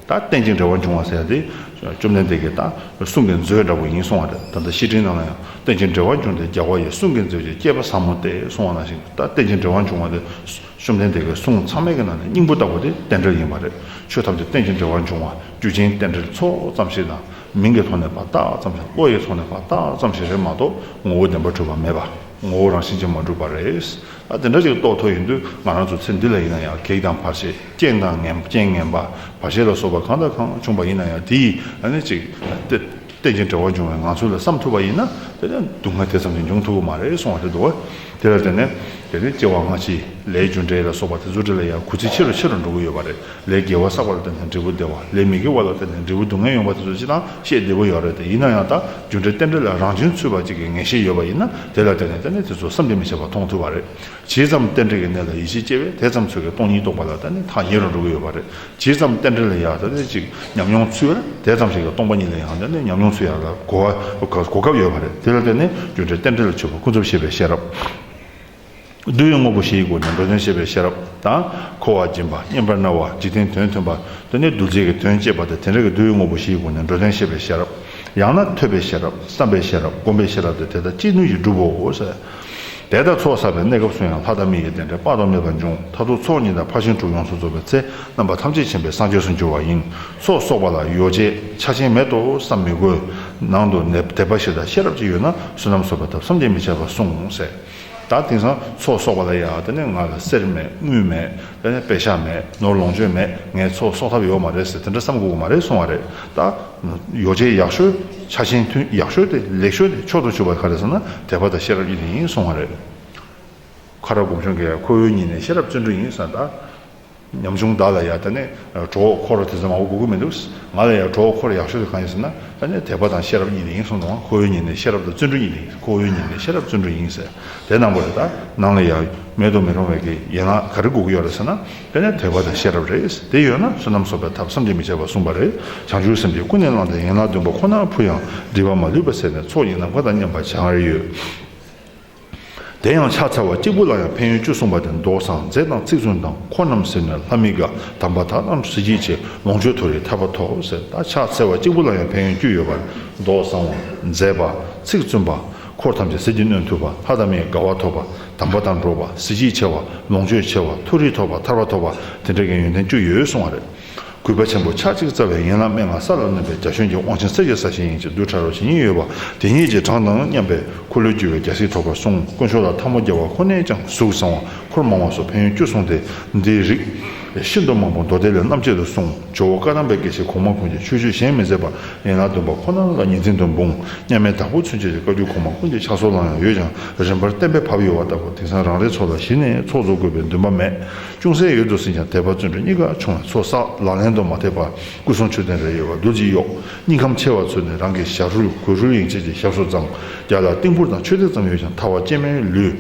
ད་རྟེན་ཅིང་འབྲེལ་བར་འབྱུང་བ་ཟེར་ཏེ། བཅོམ་ལྡན་འདས་ཀྱིས་ད་གསུང་གི་མཛོད་འདྲ་བོ་ཡིན་གསུང་བ་དེ་ད་ལྟ་བཤེས་སྤྲིང་རྣམས་ལ་ཡང་རྟེན་ཅིང་འབྲེལ་བར་འབྱུང་སྟེ་རྒྱལ་བ་ཡི་གསུང་གི་མཛོད་ཀྱི་སྐྱེས་པ་ཟབ་མོ་སྟེ་གསུང་བ་ནང་བཞིན་ད་རྟེན་ཅིང་འབྲེལ་བར་འབྱུང་བ་དེ། བཅོམ་ལྡན་འདས་ཀྱི་གསུང་ཚང་མལ་གྱི་ནང་ནས་སྙིང་པོ་ལྟ་བུ་དེ་རྟེན་འབྲེལ་ཡིན་པ་རེད་ཆོས་ཐམས་ཅད་རྟེན་ཅིང་འབྲེལ་བར་འབྱུང་བ་རྒྱུ་ཅན་རྟེན་འབྲེལ་ཚོགས་ཙམ་ཞིག་དང་མིང་གི་ཐོག་ནས་པ་རྟགས་ཙམ་ཞིག་བློ་ཡི་ཐོག་ནས་པ་རྟགས་ཙམ་ཞིག་རེད་མ་གཏོགས་ངོ་བོ་བདེན་པ་འཁྲུལ་པ་མེད་པ། ངོ་བོ་རང་བཞིན་ཅན་མ་གྲུབ་པ་རེད། ད་དེ་འདྲ་ཞིག་རྟོགས་ཐུབ་ཡོང་དུས་ང་རང་ཚོ་ཚེ་འདི་ལ་ཡིན་ན་ཡང་གེགས་དང་བར་ཆད་རྐྱེན་དང་རྐྱེན་ངན་པ་བར་ཆད་ལ་སོགས་པ་གང་དང་གང་བྱུང་བ་ཡིན་ན་ཡང་དེ་ཡིས་ནི་ཅིག་གཏན་གྱི་འབྲེལ་བ་འབྱུང་བའི་ངང་ཚུལ་ལ་བསམ་ཐུབ་པ་ཡིན་ན་དེ་ནི་སྡུག་བསྔལ་དེ་ཙམ་གྱིས་འབྱུང་ཐུབ་པ་མ་རེད་གསུང་བ་རེད་འདུག་དེ་ལ་བརྟེན་ནས་དེ་ནི་སྐྱེ་བ་སྔ་ཕྱི་ལས་རྒྱུ་འབྲས་ལ་སོགས་པ་དེ་ཚོ་འདྲ་ལ་ཡང་གུས་བརྩི་ཆེ་རུ་ཆེ་རུ་འགྲོ་གི་ཡོད་པ་རེད། ལས་དགེ་བ་བསགས་པ་ལ་བརྟེན་ནས་འབྲས་བུ་བདེ་བ། ལས་མི་དགེ་བ་ལ་བརྟེན་ནས་འབྲས་བུ་སྡུག་བསྔལ་ཡོང་བ་དེ་ཚོ་སྤྱི་དང་ཤེས་བདེ་པོ་ཡོད་རེད་དེ་ཡིན་ན་ཡང་དག་རྒྱུ་འབྲས་རྟེན་འབྲེལ་ལ་རང་བྱུང་ཚུལ་བ་གཅིག་གི་ངེས་ཤེས་ཡོད་པ་ཡིན་ན་དེ་ལ་བརྟེན་ནས་རྟེན་འབྲེལ་དེ་ཚོ་བསམ་གྱིས་མི་ཁྱབ་པ་མཐོང་ཐུབ་པ་རེད། ཇི་ཙམ་རྟེན་འབྲེལ་གྱི་གནད་ལ་ཡིད་ཆེས་སྐྱེ་བས་དེ་ཙམ་ཚོད་ཀྱི་སྟོང་ཉིད་རྟོགས་པ་ལ་བརྟེན་ནས་ཐག་ཉེ་རུ་འགྲོ་གི་ཡོད་པ་རེད། ཇི་ཙམ་རྟེན་འབྲེལ་ལ་ཡང་ད་ལྟའི་ཅིག་ཉམས་མྱོང་ཚུལ་བས་དེ་ཙམ་ཞིག་གི་སྟོང་པ་ཉིད་ལ་ཡང་བརྟེན་ནས་ཉམས་མྱོང་ཚུལ་ཡག་ལ་གོ་བ་གོ་སྐབས་ཡོད་པ་རེད་དེ་ལ་བརྟེན་ནས་རྒྱུ་འབྲས་རྟེན་འབྲེལ་ལ་ཆོད་པ་ཀུན་རྫོབ་ཤེས་པའི་ཤེས་རབ། བསྡུ་བའི་དངོས་པོ་བཞིའི་སྒོ་ནས་འགྲོ་དོན་བྱེད་པའི་ཤེས་རབ་དང། འཁོར་བ་འབྱིན་པ་སྙེམས་པར་གནས་པ་འཇིག་རྟེན་དོན་མཐུན་པ། དེ་ནི་བསྡུ་བྱེད་ཀྱི་དོན་བསྐྱེད་པ་སྟེ་དེ་འདྲ་གི་བསྡུ་བའི་དངོས་པོ་བཞིའི་སྒོ་ནས་འགྲོ་དོན་བྱེད་པའི་ཤེས་རབ། ཡང་ན་ཐོས་པའི་ཤེས་རབ་བསམ་པའི་ཤེས་རབ་བསྒོམ་པའི་ཤེས་རབ་སྟེ་དེ་དག་ཅི་ནུས་ཀྱིས་འགྲུབ་བོ། དེ་ལྟར་ཚོགས་བསགས་པའི་གནས་སྐབས་སུ་ཡང་ལྷ་དང་མི་ཡི་རྟེན་འབྲེལ་དཔག་ཏུ་མེད་པ་འབྱུང་མཐར་ཐུག་ཚོགས་གཉིས་དང་ཕར་ཕྱིན་དྲུག་ཡོངས་སུ་རྫོགས་པའི་ཚེ་རྣམ་པ་ཐམས་ཅད་མཁྱེན་པའི་སངས་རྒྱས་སུ་འགྱུར་བ་ཡིན། ཚོགས་གསོག་པ་ལ་ཡོ་བྱད་ཆ་ཆེན་མེད་དོ་བསམ་མི་དགོས། ནང་དུ་དད་པ་བཞི་དང་ཤེས་རབ་གཅིག་ཡོད་ན་བསོད་ནམས་གསོག་པའི་ཐབས་སམ་རྒྱན་མི་ཆད་པར་གསུངས། ད་དེང་སང་ཚོགས་གསོག་པ་ལ་ཡ་ད་ནི་ང་ལ་གསེར་མེད་དངུལ་མེད་ད་ནི་པད་ཤག་མེད་ནོར་ལོངས་སྤྱོད་མེད་ངས་ཚོགས་གསོག་ཐབས་ཡོད་མ་རེད་ཟེར་དེ་འདྲ་བསམ་དགོས་ཀྱི་མ་རེད་གསུང་བ་རེད་ད། ཡོ་བྱད་ཡག་ཤོས་ཆ་ཆེན་མཐུན་ཡག་ཤོས་དེ་ལེགས་ཤོས་དེ་ཕྱོགས་སུ་བཅུག་པ་ག་རེ་ཟེར་ན་དད་པ་དང་ཤེས་རབ་ཀྱི་ལས་ཡིན་གསུང་བ་རེད། ཁ་ར་དགོངས་ཞུ་འགའ་ཡང་ཁོ་བོའི་ཉིད་ནས་ཤེས་རབ་བརྩོན་འགྲུས་ཡིན་བསམ་ད། ཉམ་ཆུང་བདག་ལ་ཡང་ད་ནི་གྲོགས་འཁོར་དེ་ཙམ་མང་བོ་དགོས་ཀྱི་མི་འདུག། ང་ལ་ཡང་གྲོགས་འཁོར་ཡག་ཤོས་དེ་གང་ཡིན་ཟེར་ན་ད་ནི་དད་པ་དང་ཤེས་རབ་གཉིས་དེ་ཡིན་གསུངས་དང་ཁོ་བོའི་ཉིན་ནས་ཤེས་རབ་དང་བརྩོན་འགྲུས་གཉིས་དེ་ཡིན་ཁོ་བོའི་ཉིན་ནས་ཤེས་རབ་བརྩོན་འགྲུས་ཡིན་ཟེར་དེ་གནང་པོ་རེད་ད། ནང་ལ་ཡང་མེད་དུ་མི་རུང་བའི་གི་ཡན་ལག་ག་རེ་དགོས་ཀྱི་ཡོད་རེད་ཟེར་ན་ད་ནི་དད་པ་དང་ཤེས་རབ་རེད་དེ་ཡོད་ན་བསོད་ནམས་གསོག་པའི་ཐབས་བསམ་གྱིས་མི་ཁྱབ་པ་གསུངས་པ་རེད་བྱང་ཆུབ་སེམས་ཀྱིས་ཀུན་ནས་བསླངས་ཏེ་ཡན་ལག་བདུན་པ་ཁོ་ནར་ཕུལ་ཡང་སྒྲིབ་པ་མ་ལུས་པ་ཟད་ནས་ཚོགས་གཉིས་ནམ་མཁའ་དང་མཉམ་པར་བྱེད་ང་རེ་ཡོད། དེ་ཡང་ཕྱག་འཚལ་བ་གཅིག་པུ་ལ་ཡང་ཕན་ཡོན་བཅུ་གསུངས་པ་དེ་མདོ་བཟང་མཛེས་དང་ཚིག་བཙུན་དང་འཁོར་རྣམས་ཟེར་ནས་ལྷ་མི་དགའ་དམ་པ་དག་རྣམས་གཟི་བརྗིད་ཆེ་ལོངས་སྤྱོད་མཐོ་རིས་ཐར་པ་ཐོབ་ཟེར་ད་ཕྱག་འཚལ་བ་གཅིག་པུ་ལ་ཡང་ཕན་ཡོན་བཅུ་ཡོད་པ་མདོ་བཟང་བ་མཛེས་པ་ཚིག་བཙུན་པ་འཁོར་ཐམས་ཅད་གཟི་བརྗིད་ནོན་ཐུབ་པ་ལྷ་དང་མིའི་དགའ་བ་ཐོབ་པ་དམ་པ་དང་འགྲོགས་པ་གཟི་བརྗིད་ཆེ་བ་ལོངས་སྤྱོད་ཆེ་བ་མཐོ་རིས་ཐོབ་པ་ཐར་པ་ཐོབ་པ་དེ་འདྲ་གི་ཡོན་ཏན་བཅུ་ཡོད་གསུངས་བ་རེད། གུས་པ་ཆེན་པོ་ཆགས་གཅིག་རྩ་བའི་ཡན་ལག་མན་ངག་ས་ལ་གནོན་པའི་རྒྱ་ཞུན་གྱི་དབང་ཆེན་གསེར་གྱི་ས་ཞིང་ཡིན་ཅེས་རྡུལ་ཕྲ་རོ་ཇི་སྙེད་ཡོད་པ་དེ་སྙེད་ཀྱི་གྲངས་དང་མཉམ་པའི་འཁོར་ལོས་སྒྱུར་བའི་རྒྱལ་སྲིད་ཐོབ་པར་གསུངས་དཀོན་མཆོག་ལ་འཐབ་མོ་རྒྱལ་བ་ཁོ་ནའི་ཀྱང་གཟུགས་བཟང་བ་འཁོར་མང་བ་སོགས་ཕན་ཡོན་བཅུ་གསུངས་ཏེ་འདིའི་རིགས་ཤིན་ཏུ་མང་པོ་མདོ་སྡེ་ལས་རྣམ་དཔྱད་དུ་གསུངས་ཇོ་བོ་བཀའ་ཐང་པའི་དགེ་བཤེས་གོང་མ་ཀུན་གྱིས་ཆོས་སྤྱོད་གཞན་མི་མཛད་པར་ཡན་ལག་བདུན་པ་ཁོ་ན་ལ་ཉིན་མཚན་དུ་འབུངས་སྙམ་མའི་བདག་པོ་ཚུན་ཆད་ཀྱི་བཀའ་རྒྱུད་གོང་མ་ཀུན་གྱི་ཕྱག་སྲོལ་ལའང་ཡོད་ཀྱང་རིམ་པར་གཏན་འབེབས་བབས་ཡོད་བ་ལྟ་བུ་དེང་སང་རང་རེའི་ཚོ་ལ་གཞི་ནས་ཚོགས་གཙོ་དགོས་པའི་འདུན་པ་མེད་ཅུང་ཟད་ཡོད་དུ་ཟིན་ཀྱང་དད་པ་བརྩོན་འགྲུས་གཉིས་ཀ་ཆུང་བས་ཚོགས་བསགས་ལག་ལེན་དུ་མ་ཐེག་པར་སྐུ་གསུང་མཆོད་རྟེན་རེ་ཡོད་པ་རྡོ་རྗེ་གཡོག་སྙིང་ཁམས་ཆེ་བ་ཚོས་ནི་རང་གི་ཞབས་རུས་གོས་ཧྲུལ་ཡིན་ཆེད་ཀྱི་ཞབས་སོ་ཙམ་རྒྱག་ལ་རྟིང་ཕུར་དང་མཆོད་རྟེན་ཙམ་ཡོད་ཀྱང་ཐར་བ་སྐྱེལ་མའི་ལུས་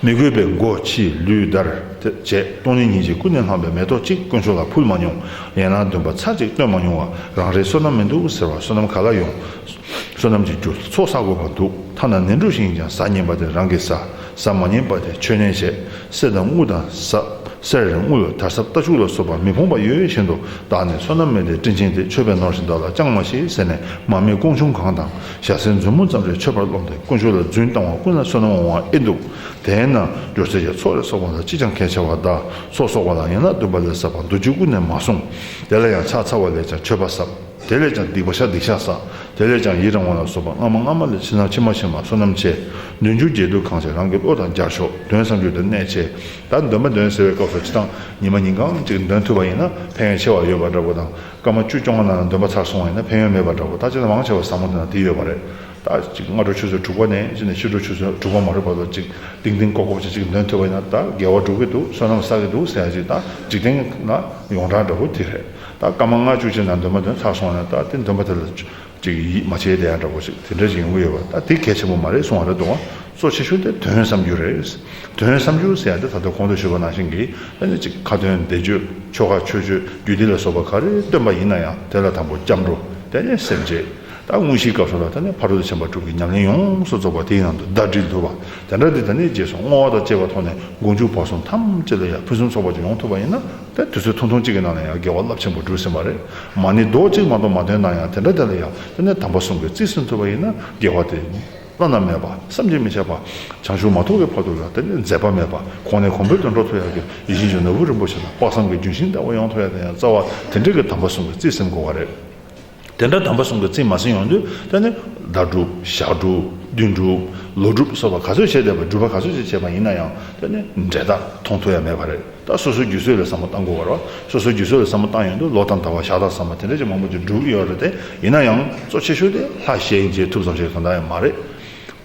མི་དགོས་པས་མགོ་ཕྱིས་ལུས་བརྡར་བྱས་སྟོང་ཉིན་ཉིན་གཅིག་ཀུན་ནས་བསླངས་པའི་མེ་ཏོག་གཅིག་དཀོན་མཆོག་ལ་ཕུལ་མ་མྱོང་ཡན་ལག་བདུན་པ་ཚར་གཅིག་བཏོན་མ་མྱོང་བ་རང་རེའི་བསོད་ནམས་མི་འདུག་ཟེར་བ་བསོད་ནམས་ག་ལ་ཡོང་བསོད་ནམས་ཀྱི་རྒྱུ་ཚོགས་བསགས་དགོས་པ་འདུག་ཐ་ན་ནེ་འབྲུ་ཞིང་ཀྱང་ཟ་ཉེན་པ་དེ་རང་གི་ཟ། ཟ་མ་ཉེས་པ་དེ་ཆོས་ཉན་བྱེད་གསེར་དང་དངུལ་དང་ཟ་གསེར་རེ་དངུལ་ལ་དར་ཟབ་རྟ་ཕྱུགས་ལ་སོགས་པ་མི་ཕོངས་པ་ཡོད་བཞིན་དུ་བདག་ནི་བསོད་ནམས་མེད་དེ་སྤྲིན་ཆེན་དེ་མཆོད་པས་ནོར་ཞིང་བདག་ལ་བཅང་མ་ཤེས་ཟེར་ནས་མར་མེ་ཀོང་ཆུང་གང་དང་ཞྭ་སེར་མཛུབ་མོ་ཙམ་རེ་མཆོད་པར་རློམ་སྟེ་དཀོན་མཆོག་ལ་རྫུན་བཏང་བ་ཀུན་ལ་བསོད་ནམས་འོང་བ་ཨེ་འདུག་དེས་ན་སྦྱོར་ཚིག་གི་ཚོགས་རེ་གསོག་པ་ལ་ཅིས་ཀྱང་གལ་ཆེ་བ་བདག་སོགས་གསོག་པ་ལ་ཡན་ལག་བདུན་པ་ལས་ཟབ་པ་མདོ་རྒྱུད་ཀུན་ནས་མ་གསུངས་དེ་ལ་ཡང་ཕྱག་འཚལ་བ་ལས་ཀྱང་མཆོད་པ་ཟབ། དེ་ལས་ཀྱང་སྡིག་པ་བཤགས་སྡིག་བཤགས་བསགས། དེ་ལས་ཀྱང་ཡི་རང་བ་ལ་སོགས་པ་སྔ་མ་སྔ་མ་ལས་ཕྱི་ནང་ཕྱི་མ་ཕྱི་མ་བསོད་ནམས་ཆེ། འདུན་ཆུང་རྒྱས་བསྡུས་གང་ཆེ་རང་གི་བློ་དང་སྦྱར་ཤོག་དོན་བསམ་རྒྱུ་དེར་གནད་ཆེ། ད་འདོན་མ་འདོན་ཟེར་བའི་སྐབས་སུ་ཅི་དང་ཉིན་མ་ཉིན་གང་ཅིག་འདོན་ཐུབ་པ་ཡིན་ན་ཕན་ཡོན་ཆེ་བ་ཡོད་པ་འདྲ་པོ་དང་སྐར་མ་བཅུ་བཅོ་ལྔ་ནང་འདོན་པ་ཚར་སོང་བ་ཡིན་ན་ཕན་ཡོན་མེད་པ་འདྲ་པོ་ད་ཅི་ན་མང་ཆེ་བ་ཟབ་མོ་དེ་དང་དེ་ཡོད་པ་རེད་ད། ཅིག་སྔ་དྲོ་ཆུ་ཚོད་དྲུག་པ་ནས་ཅིག་ནས་ཕྱི་དྲོ་ཆུ་ཚོད་དྲུག་པ་མ་རེད་པ་ལོ་ཅིག་ལྡིང་ལྡིང་ཀོག་ཀོག་ཅིག་ཅིག་འདོན་ཐུབ་པ་ཡིན་ན་ད་དགེ་བ་འགྲུབ་ཀྱི་འདུག་བསོད་ནམས་བསགས་ཀྱི་འདུག་ཟེར་ཡ་ཅིག་ད་འཇིག་རྟེན་ན་ཡོངས་གྲགས་འདྲ་པོ་དེ་རེད། ད་སྐར་མ་ལྔ་བཅུ་ཕྱི་ནང་འདོན་མ་འདོན་ཚར་སོང་ནས་ད་དེ་འདོན་པ་དེ་ལ་ཅིག་ཡིད་མ་ཆེས་བསྡད་ཡ་འདྲ་བོ་ཞིག་དེ་འདྲ་ཞིག་ཡོང་གི་ཡོད་པ་ད་དེ་གལ་ཆེན་པོ་མ་རེད་གསུང་བ་རེད་འདུག་གཙོ་ཆེ་ཤོས་དེ་དོན་བསམ་རྒྱུ་རེད། དོན་བསམ་རྒྱུ་ཟེར་ཡ་དེ་ད་ལྟ་གོང་དུ་ཞུས་པ་ནང་བཞིན་གྱི་ཨ་ནི་ཅིག་ཁ་དོན་བདེ་སྤྱོད་ཆོལ་ཁ་ཆོས་སྤྱོད་རྒྱུད་སྡེ་ལ་སོགས་པ་ག་རེ་བཏོན་པ་ཡིན་ན་ཡང་དེ་ལ་དང་པོ་སྐྱབས་འགྲོ་དེ་ནས་སེམས་བསྐྱེད་ད་དངོས་གཞིའི་སྐབས་སུ་ལ་དེ་ནས་ཕ་རོལ་ཏུ་ཕྱིན་པ་དྲུག་གི་ཉམས་ལེན་ཡོངས་སུ་རྫོགས་པ་དེའི་ནང་དུ་ཟླ་སྒྲིལ་འདུལ་བ་དེ་འདྲ་དེ་ད་ནས་རྗེས་སུ་བསྔོ་བ་དང་བཅས་པ་ཐོག་ནས་མགོ་མཇུག་བར་གསུམ་ཐམས་ཅད་ལ་ཡང་ཕུན་སུམ་ཚོགས་པ་ཅིག་ཡོང་ཐུབ་པ་ཡིན་ན། ད་དུས་ཚོད་ཐུང་ཐུང་གཅིག་གི་ནང་ལ་ཡང་དགེ་བ་རླབས་ཆེན་པོ་བསྒྲུབས་ཟིན་པ་རེད། མ་ཎི་རྡོག་གཅིག་མ་གཏོགས་མ་འདོན་ན་ཡང་དེ་འདྲ་དེ་ལ་ཡང་དེ་ནས་དམ་པ་གསུམ་གྱི་རྩིས་སུ་འཐོད་པ་ཡིན་ན་དགེ་བ་དེ་བླ་ན་མེད་པ་བསམ་གྱིས་མི་ཁྱབ་པ། བྱང་ཆུབ་མ་ཐོབ་ཀྱི་བར་དུ་ཡང་དེ་ལས་འཛད་པ་མེད་པ་གོང་ནས་གོང་འཕེལ་དུ་འགྲོ་ཐུབ་ཡག་གི་ཡིད་བཞིན་གྱི་ནོར་བུ་རིན་པོ་ཆེ་དང་དཔག་བསམ་གྱི་རྒྱུན་ཤིང་ལྟ་བུ་ཡོང་ཐུབ་ཡག་དེ་ཡང་རྩ་བ་དེ་འདྲས་ཀྱི་དམ་པ་གསུམ་གྱི་རྩིས་སེམས་གོ་བ་རེད། དེ་འདྲ་དམ་པ་གསུམ་གྱི་རྩིས་མ་ཟིན་ཡོང་དུས་ད་ནི་ཟླ་དྲུག་ཞག་དྲུག་བདུན་དྲུག་ལོ་དྲུག་སོགས་པ་ག་ཚོད་བྱས་བསྡད་པ་སྒྲུབ་པ་ག་ཚོད་ཅིག་བྱས་པ་ཡིན་ན་ཡང་ད་ནི་འབྲས་རྟགས་མཐོང་ཐུབ་ཡ་མེད་པ་རེད་ད་སོ་སོའི་རྒྱུ་སྲོལ་ལས་བསམ་བློ་བཏང་དགོས་བར་བ་སོ་སོའི་རྒྱུ་སྲོལ་ལས་བསམ་བློ་བཏང་ཡོང་དུས་ལོ་དང་ཟླ་བ་ཞག་དང་བསམ་པ་དེ་འདྲ་ཅིག་མང་པོ་ཅིག་བསྒྲུབས་ཡོད་རེད་དེ་ཡིན་ན་ཡང་གཙོ་ཆེ་ཤོས་དེ་ལྷ་ཞལ་མཇལ་ཐུབ་ཙམ་ཞིག་གང་ལྟར་ཡང་མ་རེད།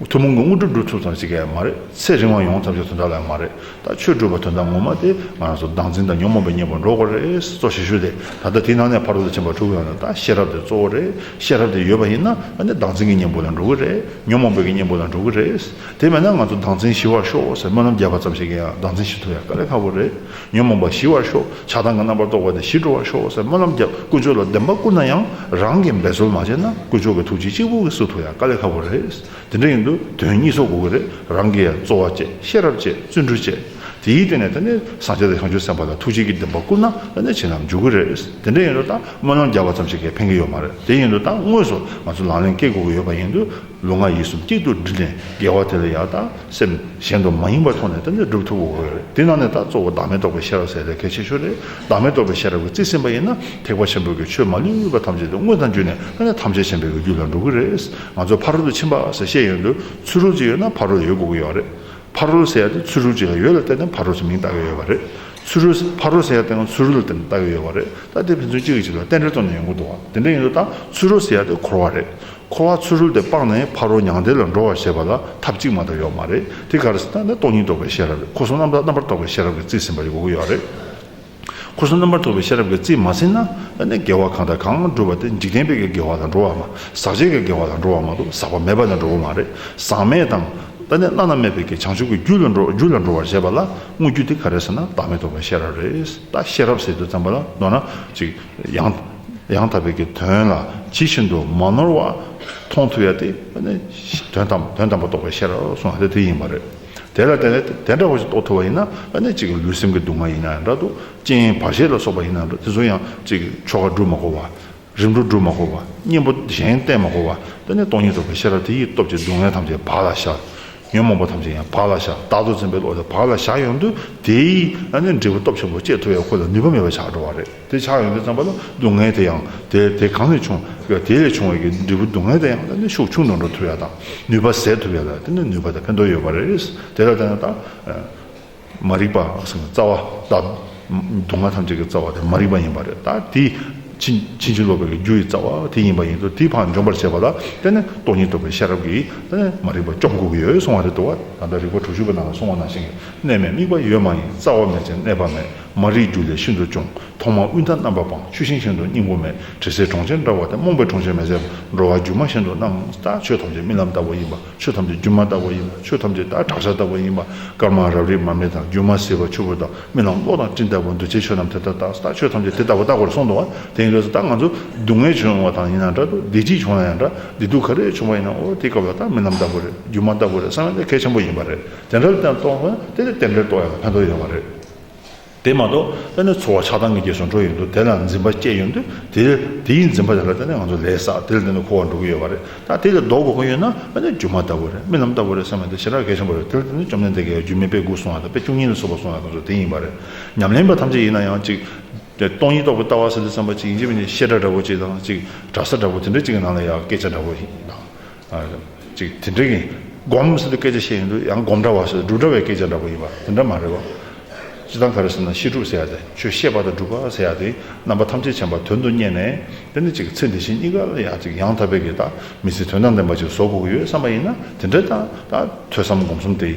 ཐུན་མོང་གི་དངོས་གྲུབ་སྒྲུབ་ཐུབ་ཙམ་ཞིག་གི་ཡང་མ་རེད། ཚེ་རིང་བ་ཡོང་ཙམ་ཞིག་དོན་དག་ལ་ཡང་མ་རེད། ད་ཆོས་སྒྲུབ་པ་དོན་དག་ངོ་མ་དེ་ང་རང་ཚོ་སྡང་འཛིན་དང་ཉོན་མོངས་པའི་གཉེན་པོར་འགྲོ་དགོས་རེད། གཙོ་བྱེད་ཤུགས་དེ་ད་ལྟ་དེའི་ནང་ནས་ཕར་འདོར་དུ་ཕྱིན་པ་དྲུག་ཡོང་ནས་ད་ཤེས་རབ་དེ་གཙོ་བོ་རེད། ཤེས་རབ་དེ་ཡོད་པ་ཡིན་ན་ད་ནི་སྡང་འཛིན་གྱི་གཉེན་པོ་ལ་འགྲོ་གི་རེད། ཉོན་མོངས་པའི་གཉེན་པོ་ལ་འགྲོ་གི་རེད། དེ་མེད་ན་ང་ཚོ་སྡང་འཛིན་ཞི་བར་ཤོག་ཟེར་སྨོན་ལམ་རྒྱབ་པ་ཙམ་ཞིག་གི་ཡང་སྡང་འཛིན་ཞི་ཐུབ་ཡང་དཀའ་ལས་ཁག་པོ་རེད། ཉོན་མོངས་པ་ཞི་བར་ཤོག་ཆགས་སྡང་གི་རྣམ་པར་རྟོག་པ་དེ་ཞི་འགྲོ་བར་ཤོག་ཟེར་སྨོན་ལམ་བརྒྱབ་དཀོན་མཆོག་ལ་བདེན་པ་བསྐུར་ན་ཡང་རང་གིས་འབད་རྩོལ་མ་བྱས་ན་དཀོན་མཆོག་གི་ཐུགས་རྗེ་གཅིག་པུ་གིས་སུ་ཐུག་ཡ་དཀའ་ལས་ཁག་པོ་རེད་དེ་འདྲ་ཡིན་དུས་དོན་གཉིས་ཚོགས་དགོས་ཀྱི་རེད་རང་གིས་ཡ་རྩོལ་བ་བཅས་ཤེས་རབ་བཅས་བརྩོན་འགྲུས་བཅས་དེའི་སྟེང་ནས་ད་ནས་བཟང་ཆ་དེ་བྱང་ཆུབ་སེམས་དཔའ་ལ་ཐུགས་རྗེ་གིས་བདེན་པ་བསྐུར་ན་ད་ནས་བྱས་ན་འཇུག་གི་རེད་དེ་འདྲ་ཡིན་དུས་ད་སྨོན་ལམ་བརྒྱབ་པ་ཙམ་ཞིག་གིས་ཕན་གི་ཡོད་མ་རེད་དེ་ཡིན་དུས་ད་དངོས་སུ་ང་ཚོ་ལག་ལེན་སྐེལ་དགོས་ཀྱི་ཡོད་པ་ཡིན་དུས། ལུས་ངག་ཡིད་གསུམ་གཅིག་ཏུ་སྒྲིལ་ནས་དགེ་བ་དེ་ལ་ཡང་དང་སེམས་གཞན་དུ་མ་ཡེངས་པར་ཐོགས་ནས་བསྟེན་ནས་བསྒྲུབ་ཐུབ་བོ། དེ་ནང་ནས་ད་གཙོ་བོ་བདག་མེད་རྟོགས་པའི་ཤེས་རབ་ཟེར་ལས་གལ་ཆེ་ཤོས་ནི་བདག་མེད་རྟོགས་པའི་ཤེས་རབ་ཀྱི་རྩིས་ཟིན་པ་ཡིན་ན་ཐེག་པ་ཆེན་པོ་གི་ཆོས་མ་ལུས་པ་ཐམས་ཅད་དུ་དངོས་དང་བརྒྱུད་ནས་ད་ནས་ཐམས་ཅད་མཁྱེན་པའི་རྒྱུ་ལ་འགྲོ་གི་རེད། ང་ཚོ་ཕ་རོལ་ཏུ་ཕྱིན་པ་ཟེར་ཤེས་ཡོན་དུ་ཚུར་རོལ་ཅིག་ཡོད་ན་ཕ་རོལ་ཡོད་དགོས་ཀྱི་ཡོད་རེད། ཕ་རོལ་ཟེར་ཡ་དེ་ཚུར་རོལ་ཅིག་ལ་ཡོད་ལ་བརྟེན་ནས་ཕ་རོལ་ཟེར་མིང་བཏགས་ཀྱི་ཡོད་པ་རེད། ཚུར་རོལ་ཟེར་ཕ་རོལ་ཟེར་ཡ་དེའང་ཚུར་རོལ་ལ་བརྟེན་ནས་བཏགས་ཀྱི་ཡོད་པ་རེད། ད་དེ་ཕན་ཚུན་གཅིག་གིས་གཅིག་ལ་རྟེན་འབྲེལ་གཏོང་ནས་ཡོང་གི་འདུག་བ་དེ་འདྲ་ཡིན་དུས་ད་ཚུར་རོལ་ཟེར་ཡ་དེ་འཁོར་བ་རེད། འཁོར་བ་ཚུར་རོལ་ཏེ་སྤངས་ནས་ཕ་རོལ་མྱང་འདས་ལ་འགྲོ་བར་བྱེད་པ་ལ་ཐབས་གཅིག་མ་གཏོགས་ཡོད་མ་རེད། དེ་ག་རེ་ཟེར་ན་ནི་སྟོང་ཉིད་རྟོགས་པའི་ཤེས་རབ་རེད་འཁོར་གསུམ་རྣམ་དག་རྣམ་པར་རྟོག་པའི་ཤེས་རབ་ཀྱི་རྩིས་ཟིན་པ་ཡོད་དགོས་ཡོད་རེད། འཁོར་གསུམ་རྣམ་པར་རྟོག་པའི་ཤེས་རབ་ཀྱི་རྩིས་མ་ཟིན་ན་ནི་དགེ་བ་གང་དང་གང་བསྒྲུབས་པ་དེ་འཇིག་རྟེན་པའི་གི་དགེ་བ་དང་འགྲོ་བ་མ་ཟག་བཅས་ཀྱི་དགེ་བ་དང་འགྲོ་བ་མ་གཏོགས་ཟག་པ་མེད་པ་ལ་འགྲོ་གི་མ་རེད། ཟག་མེད་དང། ནི་བླ་ན་མེད་པའི་གི་བྱང་ཆུབ་ཀྱི་རྒྱུད་ལ་འགྲོ་རྒྱུད་ལ་འགྲོ་བར་བྱེད་པ་ལ་དངོས་རྒྱུད་དེ་ག་རེ་ཟེར་ན་བདག་མེད་རྟོགས་པའི་ཤེས་རབ་རེད། ད་ཤེས་རབ་ཟེར་དུ་བརྩམས་པ་ལ་མདོར་ན། ཅིག། ཡང། ཡང་དག་པའི་གི་དོན་ལ་ཇི་བཞིན་དུ་མ་ནོར་བར་མཐོང་ཐུབ་ཡ་དེ་ནི་དོན་དམ་དོན་དམ་པ་རྟོགས་པའི་ཤེས་རབ་གསུངས་ཡ་དེ་དེ་ཡིན་པ་རེད། དེ་ལ་བརྟེན་ནས་དེ་འདྲ་བ་ཞིག་རྟོགས་ཐུབ་པ་ཡིན་ན་ནི་གཅིག་ལུས་སེམས་ཀྱི་སྡུག་བསྔལ་ཡིན་ན་ཡང་འདྲ་འདུག་ཅིང་བར་ཆད་ལ་སོགས་པ་ཡིན་ན་འདྲ་དེ་ཚོ་ཡང་གཅིག་ཆོ་ག་བསྒྲུབ་མ་གོ་བ། རིམ་གྲོ་བསྒྲུབ་མ་གོ་བ་གཉེན་པོ་གཞན་བསྟེན་མ་གོ་བ་དེ་ནི་སྟོང་ཉིད་རྟོགས་པའི་ཤེས་རབ་དེ་ཡི་སྟོབས་ཀྱིས་སྡུག་བསྔལ་ཐམས་ཅད་བག་ལ་བཞག། ཉོན་མོངས་པ་ཐམས་ཅད་ཡང་བག་ལ་བཞག་བདག་ཏུ་འཛིན་པའི་བློ་དེ་བག་ལ་བཞག་ཡོང་དུས་དེའི་ནི་འབྲས་བུ་སྟོབས་ཆེན་པོ་སྐྱེད་ཐུབ་ཡ་ཁོ་ལ་ནུས་པ་མེད་པ་ཆགས་འགྲོ་བ་རེད། དེ་ཆགས་ཡོང་དུས་བརྩམས་པ་ལ་སྡུག་བསྔལ་དེ་ཡང་དེ་དེ་གང་ལས་བྱུང་གི་དེ་ལས་བྱུང་བའི་གི་འབྲས་བུ་སྡུག་བསྔལ་དེ་ཡང་ད་ནི་ཤུགས་ཆུང་དུ་འགྲོ་ཐུབ་ཡ་དང་ནུས་པ་ཟད་ཐུབ་ཡ་ལ་དེ་ནི་ནུས་པ་དང་ཕན་ཐོགས་ཡོད་པ་རེད་དེ་ལ་ད་ནི་ད་མ་རིག་པ་སེམས་རྩ་བ་ད་སྡུག་བསྔལ་ཐམས་ཅད་ཀྱི་རྩ་བ་དེ་མ་རིག་པ་ཡིན་པ་རེད་ད་དེ་ཕྱིན་ཕྱིན་ཅི་ལོག་པའི་རྒྱུ་ཡི་རྩ་བ་དེ་ཡིན་པ་ཡིན་དུས་དེ་བག་འཇོམས་པར་བྱེད་པ་ལ་དེ་ནི་སྟོང་ཉིད་རྟོགས་པའི་ཤེས་རབ་ཀྱིས་ད་ནི་མ་རིག་པ་སྐྱོབ་དགོས་ཀྱི་ཡོད་གསུང་བ་རེད་འདུག་བ་ད་ལྟ་རིག་པ་དྲུག་ཅུ་པའི་ནང་ལ་གསུང་བ་ནང་བཞིན་གྱི་གནས་མེད་དམིགས་པ་ཡོད་མ་ཡིན་རྩ་བ་མེད་ཅིང་གནས་པ་མེད་མ་རིག་རྒྱུ་ལས་ཤིན་ཏུ་འབྱུང། ཐོག་མར་དབུས་མཐའ་རྣམ་པར་སྤངས་ཆུ་ཤིང་བཞིན་དུ་སྙིང་པོ་མེད། དྲི་ཟའི་གྲོང་ཁྱེར་འདྲ་བ་སྟེ་རྨོངས་པའི་གྲོང་ཁྱེར་མེད། ཟད་པར་འགྲོ་བ་སྒྱུ་མ་བཞིན་དུ་རྣམ་དག་ཆོས་ཐམས་ཅད་རྨི་ལམ་ལྟ་བུ་ཡིན་པ་ཆོས་ཐམས་ཅད་སྒྱུ་མ་ལྟ་བུ་ཡིན་པ་ཆོས་ཐམས་ཅད་བདག་གྲགས་ཆ་ལྟ་བུ་ཡིན་པ་དཀར་དམར་རབ་རིབ་མར་མེ་དང་རྒྱུ་མ་ཟིལ་བ་ཆུ་བུར་དང་རྨི་ལམ་གློག་དང་སྤྲིན་ལྟ་བུ་འདུ་བྱེད་ཆོས་རྣམས་དེ་ལྟར་རྟག་རྟག་ཆོས་ཐམས་ཅད་དེ་ལྟ་བུ་རྟག་པར་གསུངས་འདུག་བ་དེང་རབས་སུ་རྟག་ང་ཚོར་སྡུག་བསྔལ་བྱུང་ཡོང་བ་དང་ཡིན་ན་འདྲ་སྡུག་བདེ་སྐྱིད་བྱུང་ན་ཡང་འདྲ་བདེ་སྡུག་ག་རེ་བྱུང་བ་ཡིན་ནའོ་དེའི་སྐབས་ལ་རྟག་རྨི་ལམ་ལྟ་བུ་རེད་སྒྱུ་མ་ལྟ་བུ་རེད་བསམ་ཡོད་ལས་གལ་ཆེན་པོ་ཡིན་པ་རེད་དེ་འདྲ་བརྟན་རྟོགས་ན་དེ་ལས་བརྟན་པའི་རྟོགས་ཡོད་ལ་ཕན་ཐོགས་ཡོད་པ་རེད། དེ་མ་གཏོགས་བརྟེན་ནས་འཚོ་བ་ཆགས་སྡང་གི་རྗེས་སུ་འགྲོ་ཡོད་འདུག་དེ་ལ་འཛིན་པ་བཅས་ཡོད་འདུག་དེ་དེའི་འཛིན་པ་དེ་ལ་བརྟེན་ནས་ང་ཚོ་ལས་བསགས་དེ་ལ་བརྟེན་ནས་འཁོར་བ་འགྲོ་གི་ཡོད་པ་རེད་ད་དེ་ལས་ལྡོག་དགོས་མཁོ་ཡོད་ན་བརྟེན་ནས་སྒྱུ་མ་ལྟ་བུ་རེད་རྨི་ལམ་ལྟ་བུ་རེད་བསམ་ཡོད་དེ་ཞེ་དྲག་གལ་ཆེན་པོ་རེད་དེ་ལ་བརྟེན་ནས་བཅོམ་ལྡན་འདས་དགེ་བའི་རྒྱུད་སྨིན་པའི་སྒོ་གསུང་བ་དང་དཔེ་བཅུ་གཉིས་ལ་སོགས་པ་གསུང་བ་དང་སོགས་དེ་ཡིན་པ་རེད་ཉམས་ལེན་པ་ཐམས་ཅད་ཡིན་ན་ཡང་གཅིག་སྟོང་ཉིད་རྟོགས་པའི་ལྟ་བ་ཟེར་དུས་བསམ་པ་གཅིག་ཡིན་གཅིག་བཤད་གྲྭ་འདྲ་བོ་གཅིག་དང་གཅིག་གྲྭ་ས་འདྲ་བོ་དེ་འདྲ་གཅིག་གི་ནང་ལ་ཡང་སྐད་ཆ་འདྲ་བོ་ཞིག་དང། ཅིག་དེ་འདྲ་ཡིན། སྒོམ་ཟེར་བའི་སྐད་ཆ་བཤད་ཡོང་དུས་ཡང་སྒོམ་འདྲ་བ་ཟེར་འབྲུག་འདྲ་བའི་སྐད་ཆ་འདྲ་པོ་ཡིན་པ་དེ་འདྲ་མ་རེད་བ། སྤྱི་དང་ག་རེ་ཟེར་ན་ཤེས་སྒྲུབ་ཟེར་ཡ་དེ་ཆོས་ཤེས་པ་དང་སྒྲུབ་པ་ཟེར་ཡ་དེ་རྣམ་པ་ཐམས་ཅད་མཁྱེན་པ་དོན་དུ་གཉེར་ནས་དེ་ནི་ཅིག་ཚེ་འདི་བཞིན་གཉིས་ཀ་ལ་ཡང་ཅིག་ཡང་དག་པའི་གེགས་དང་མི་ཚེ་དོན་དང་ལྡན་པ་ཅིག་བཟོ་དགོས་ཀྱི་ཡོད་བསམ་པ་ཡིན་ན་དེ་འདྲ་དང་དང་ཐོས་བསམ་སྒོམ་གསུམ་དེ་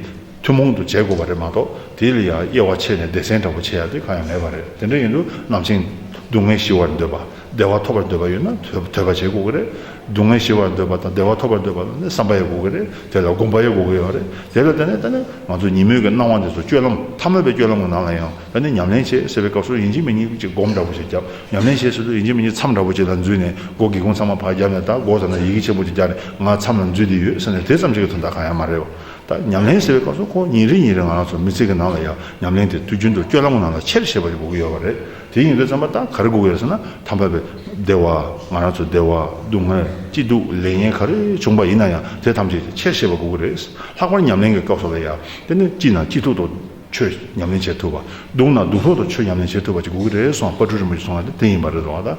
ཐུན་མོང་དུ་བྱེད་དགོས་པ་རེད་མ་གཏོགས་དེ་ལ་ཡང་དབྱེ་བ་ཕྱེ་ནས་སྡེ་ཚན་འདྲ་པོ་བྱེད་ཡ་དེ་གང་ཡང་མེད་པ་རེད་དེ་འདྲ་ཡིན་དུས་ནམ་ཕྱིན་སྡུག་བསྔལ་ཞི་བར་འདོད་པ། བདེ་བ་ཐོབ་པར་འདོད་པ་ཡོད་ན་དོད་པ་བྱེད་དགོས་ཀྱི་རེད། སྡུག་བསྔལ་ཞི་བར་འདོད་པ་དང་བདེ་བ་ཐོབ་པར་འདོད་པ་ནི་བསམ་པ་ཡོད་དགོས་ཀྱི་རེད། དེ་ལ་དགོངས་པ་ཡོད་དགོས་ཀྱི་ཡོད་རེད། དེ་ལ་བརྟེན་ནས་ད་ནི་ང་ཚོས་ཉིན་མོའི་གི་སྣང་བ་འདི་ཚོ་སྤྱོད་ལམ་ཐ་མལ་པའི་སྤྱོད་ལམ་གྱི་ནང་ལ་ཡང་ད་ནི་ཉམས་ལེན་བྱེད་ཟེར་བའི་སྐབས་སུ་ཡིན་གཅིག་མིན་གཉིས་ཅིག་སྒོམ་འདྲ་པོ་ཞིག་བརྒྱབ། ཉམས་ལེན་བྱེད་ཟེར་དུས་ཡིན་གཅིག་མིན་གཉིས་མཚམས་འདྲ་པོ་ཅིག་ལ་འཛུལ་ནས་སྒོ་སྒེའུ་ཁུང་ཚང་མ་བག་བརྒྱབ་ནས་ད་སྒོ་ད་ནི་ཡི་གེ་ཆེན་པོ་ཅིག་རྒྱག་ནས་ང་མཚམས་ལ་འཛུལ་དེ་ཡོད་ཟེར་ནས་དེ་ཙམ་ཞིག་གི་དོན་དག་གང་ཡང་མ་རེད། ད་ཉམས་ལེན་ཟེར་བའི་སྐབས་སུ་ཁོ་ཉིན་རེ་ཉིན་རེ་ང་རང་ཚོ་མི་ཚེ་གི་ནང་ལ་ཡང་ཉམས་ལེན་དེ་དུས་རྒྱུན་དུ་སྤྱོད་ལམ་གྱི་ནང་ལ་ཆེར་བྱེད་པ་ཡོད་དགོས་ཀྱི་ཡོད་རེད། དེ་ཡིན་ལུས་ཙམ་པ་དག་ག་རེ་དགོས་ཀྱི་ཡོད་ཟེར་ན་དམ་པ་བས་བདེ་བ་ང་རང་ཚོའི་བདེ་བ་སྡུག་བསྔལ་སྐྱིད་སྡུག་ལས་ངན་ག་རེ་བྱུང་པ་ཡིན་ན་ཡང་དེ་ཐམས་ཅད་ཆེར་ཤེས་པ་དགོས་ཀྱི་རེད། ལྷག་པར་ཉམས་ལེན་གྱི་སྐབས་སོགས་ལ་ཡང་དེ་ནི་སྐྱིད་ན་སྐྱིད་སྡུག་ཐོག་ཆོས་ཉམས་ལེན་བྱེད་ཐུབ་པ། སྡུག་ན་སྡུག་ཐོག་ཏུ་ཆོས་ཉམས་ལེན་བྱེད་ཐུབ་པ་ཅིག་དགོས་ཀྱི་རེད་གསུངས་བ་དཔའ་སྤྲུལ་རིན་པོ་ཆེ་གསུངས་བ་དེ་དེ་ཡིན་པ་རེད་བཟོ་བ་ད།